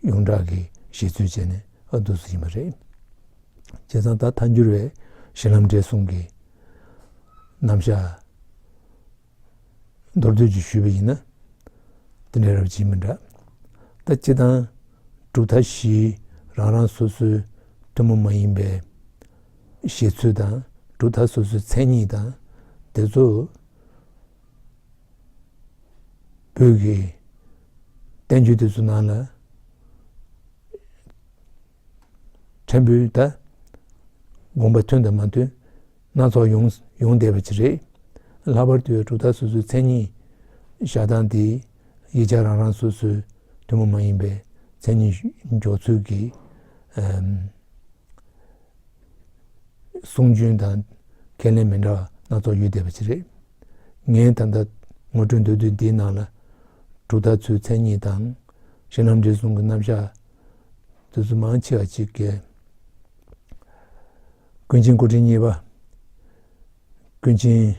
ཡོངས་གྲགས་ཀྱི་བཞེད་ཚུལ་བྱས་ནས་ཨ་བསྡུ་སུ་ཡིན་པ་རེད། བྱས་ཙང་ད་མཐའ་འགྱུར་བའི་གཞི་ལམ་འབྲས་གསུམ་གྱི། རྣམ་བཞག་མདོར་བསྡུས་ཀྱིས་ཞུས་པ་ཡིན་ན། འདི་འདྲའི་རབ་བྱེད་མི་འདྲ། ལྟ་སྤྱི་དང། གྲུབ་མཐའ་བཞིའི་རང་རང་སོ་སོའི་ཐུན་མོང་མ་ཡིན་པའི་བཞེད་ཚུལ་དང་གྲུབ་མཐའ་སོ་སོའི་མཚན་ཉིད་དང། དེ་ཚོ་བོད་ཀྱི་བསྟན་བཅོས་དེ་ཚོའི་ནང་ལ། ཕྲན་བུའི་ད་དགོངས་པ་མཐུན་དང་མ་མཐུན་སྣ་ཚོགས་ཡོང་བསྡད་པ་ཅིག་རེད། ལྷག་པར་དུ་གྲུབ་མཐའ་སོ་སོའི་མཚན་ཉིད་བཞག་སྟངས་དེས་ཡིག་ཆ་རང་རང་སོ་སོའི་ཐུན་མོང་མ་ཡིན་པའི་མཚན་ཉིད་འཇོག་ཚུལ་གྱི་གསུང་རྒྱུན་དང་ཁས་ལེན་མི་འདྲ་བ་སྣ་ཚོགས་ཡོད་བསྡད་པ་ཅིག་རེད། ངས་ད་ལྟ་ངོ་སྤྲོད་འདོད་དུས་འདིའི་ནང་ལ་གྲུབ་མཐའ་ཚོའི་མཚན་ཉིད་དང་གཞི་ལམ་འབྲས་གསུང་གི་རྣམ་གཞག་བདུད་རྩི་མང་ཆེ་བ་གཅིག་བཀལ། ཀུན་མཁྱེན་སྐུ་ཕྲེང་གཉིས་པ། ཀུན་མཁྱེན་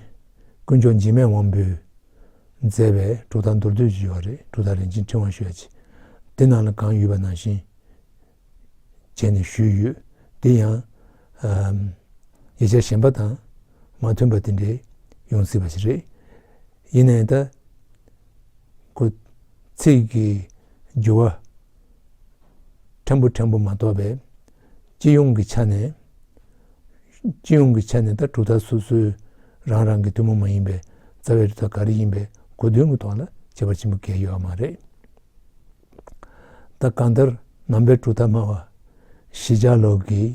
དཀོན་མཆོག་འཇིགས་མེད་དབང་པོས་མཛད་པའི་གྲུབ་མཐའ་མདོར་བསྡུས་ཞེས་པ་རེད་གྲུབ་མཐའ་རིན་ཆེན་ཕྲེང་བ་ཞེས་པ་ཆེ་འདི་ནང་ལ་གང་ཡོད་པ་ནང་བཞིན་བྱས་ནས་ཞུས་ཡོད་འདི་ཡང། ཡིག་ཆ་གཞན་པ་དང་མ་མཐུན་པ་དེ་འདྲའི་ཡོང་སྲིད་པ་ཞིག་རེད། ཡེ་ནས་དག་གོ། ཚིག་གི་རྒྱུ་བ་ཕྲན་བུ་ཕྲན་བུ་མ་གཏོགས་པའི་སྤྱི་ཡོངས་ཀྱི་ཆ་ནས། སྤྱི་ཡོངས་ཀྱི་ཆ་ནས་དག་གྲུབ་མཐའ་སོ་སོའི་རང་རང་གི་ཐུན་མོང་མ་ཡིན་པའི་རྩ་བའི་རིགས་དག་ག་རེ་ཡིན་པའི་གོ་དོན་གྱི་ཐོག་ལ་དཔྱད་པ་ཆེན་པོ་འགལ་ཡོད་པ་མ་རེད། ད་གང་ལྟར་ནང་པའི་གྲུབ་མཐའ་སྨྲ་བ་གཞི་ཆགས་ལོག་གིས་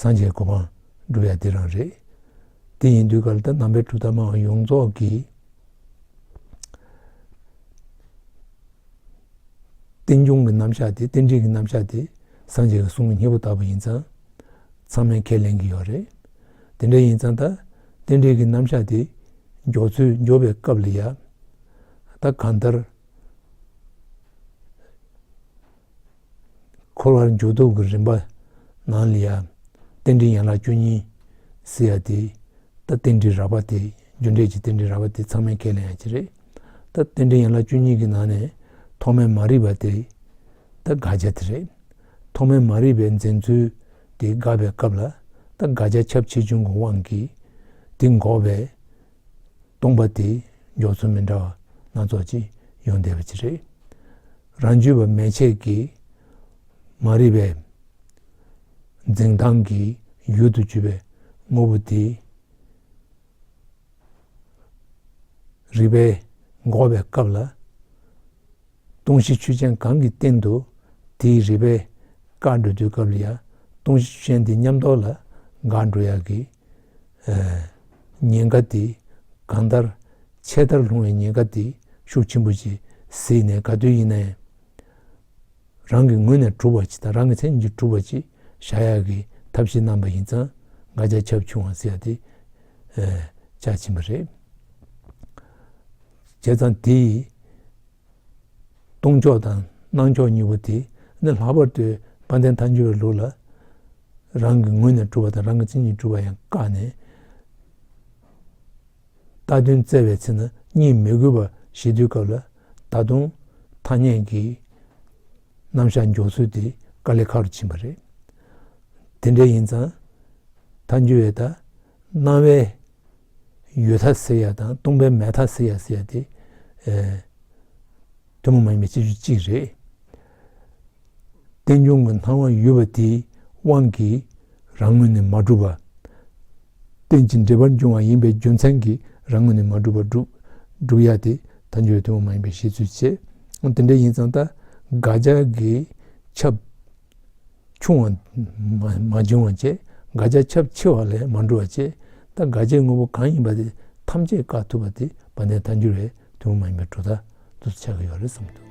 སངས་རྒྱས་གོ་འཕང་བསྒྲུབ་ཡ་འདི་རང་རེད། དེ་ཡིན་དུས་ག་ལ་ད་ནང་པའི་གྲུབ་མཐའ་མང་བ་ཡོངས་རྫོགས་ཀྱི་རྟེན་འབྱུང་གི་རྣམ་གཞག་དེ་རྟེན་འབྲེལ་གྱི་རྣམ་གཞག་དེ་སངས་རྒྱས་ཀྱི་གསུང་གི་སྙིང་པོ་ལྟ་བུ་ཡིན་ཙང་ཚང་མས་ཁས་ལེན་གྱི་ཡོད་རེད། དེ་འདྲ་ཡིན་ཙང་ད་རྟེན་འབྲེལ་གྱི་རྣམ་གཞག་དེ་མགྱོགས་ཚུལ་མགྱོགས་པའི་སྐབས་ལ་ཡ། ད་གང་ལྟར། འཁོར་བར་འཇུག་ལྡོག་གི་རིམ་པ་ནང་ལ་ཡང་རྟེན་འབྲེལ་ཡན་ལག་བཅུ་གཉིས་ཟེར་ཡ་དེ་ད་རྟེན་འབྲེལ་རགས་པ་དེ་རྒྱུ་འབྲས་ཀྱི་རྟེན་འབྲེལ་རགས་པ་དེ་ཚང་མའི་ཁས་ལེན་ཡ་གཅིག་རེད་ད་རྟེན་འབྲེལ་ཡན་ལག་བཅུ་གཉིས་ཀྱི་ནང་ནས་ཐོག་མའི་མ་རིག་པ་དེ་ད་དགག་བྱ་དེ་རེད་ཐོག་མའི་མ་རིག་པའི་འཛིན་ཚུལ་དེ་དགག་པའི་སྐབས་ལ་ད་དགག་བྱ་ཁྱབ་ཆེ་ཆུང་གི་དབང་གིས་དེ་འགོག་པའི་སྟོང་པ་དེས་མགྱོགས་ཚོར་མི་འདྲ་བ་སྣ་ཚོགས་ཀྱིས་ཡོང་བསྡད་པ་ཅི་རེད། རང་རྒྱུད་པ་མལ་ཆས་ཀྱིས་མ་རིག་པའི་འཛིང་གཏམ་གྱི་ཡུལ་དུ་གྱུར་པའི་དངོས་པོ་དེ། རིག་པས་འགོག་པའི་སྐབས་ལ། སྟོང་གཞི་ཆུ་ཆེན་གང་གི་སྟེང་དུ་དེའི་རིག་པས་བཀའ་འགྲོ་དུས་སྐབས་ལ་ཡང་སྟོང་གཞི་ཆུ་ཆེན་དེ་ཉམས་རྟོགས་ལ་དགའ་འགྲོ་ཡག་གི། ཉེན་ཁ་དེ་གང་ལྟར་ཆད་ལྟར་ལྷུང་བའི་ཉེན་ཁ་དེ་ཤུགས་ཆེན་པོ་ཅིག་གཟིགས་ནས་ག་དུས་ཡིན་ནའི་རང་གི་ངོས་ནས་གྲུབ་པ་ཅིག་དང་རང་གི་མཚན་ཉིད་ཀྱིས་གྲུབ་པ་ཅིག་བཞག་ཡག་གི་ཐབས་ཤེས་གནང་པ་ཡིན་ཙང་འགའ་ཆ་ཆབ་ཆུང་བ་ཟེར་ཡག་དེ་ཆ་ཆེན་པོ་རེད་བྱས་ཙང་དེ་ཡིས་སྟོང་ཕྱོགས་དང་སྣང་ཕྱོགས་གཉིས་པོ་དེ་ནི་ལྷག་པར་དུ་དཔལ་ལྡན་མཐའ་འགྱུར་བའི་ལུགས་ལ་རང་གི་ངོས་ནས་གྲུབ་པ་དང་རང་གི་མཚན་ཉིད་གྲུབ་པ་ཡང་བཀག་ནས་རྟག་དོན་བཙལ་བའི་ཚེ་ན་གཉིད་མི་དགོས་པ་ཞིག་དུས་སྐབས་ལ་ད་དུང་ཐ་སྙད་ཀྱི་རྣམ་གཞག་འཇོག་ཚུལ་དེ་དཀའ་ལས་ཁག་རུ་ཕྱིན་པ་རེད། དེ་འདྲ་ཡིན་ཙང་མཐའ་འགྱུར་བས་ད་སྣང་བའི་ཡོད་ཐ་ཟེར་ཡ་དང་སྟོང་པའི་མེད་ཐ་ཟེར་ཡ་ཟེར་ཡ་དེ་ཐུན་མོང་མ་ཡིན་པའི་སྤྱི་རྒྱུ་གཅིག་རེད། རྟེན་འབྱུང་གི་སྣང་བ་ཡོད་པ་དེའི་དབང་གིས་རང་ངོས་ནས་མ་གྲུབ་པ། རྟེན་ཅིང་འབྲེལ་པར་འབྱུང་བ་ཡིན་པའི་རྒྱུ་མཚན་གྱིས་རང་ངོས་ནས་མ་གྲུབ་པ་གྲུབ་ཡ་དེ་ཐ་སྙད་ཐུན་མོང་མ་ཡིན་པའི་བཤད་ཚུལ་བྱེད། འོ་དེ་འདྲ་ཡིན་ཙང་ད་དགག་བྱ་གིས་ཁྱབ། ཆུང་བ་མ་འབྱུང་བ་བཅས་དགག་བྱ་ཁྱབ་ཆེ་བ་ལས་མ་འགྲོ་བ་བཅས་ལྟ་དགག་བྱའི་དངོས་པོ་གང་ཡིན་པ་དེ་ཐམས་ཅད་བཀག་ཐུབ་པ་དེ་བ་དན་ཐ་འགྱུར་བའི་དུས་མ་ཡིན་པའི་དྲོ་ཐ་དུ་ཆགས་ཀྱི་ཡོད་རེད་བསམ་འདུག།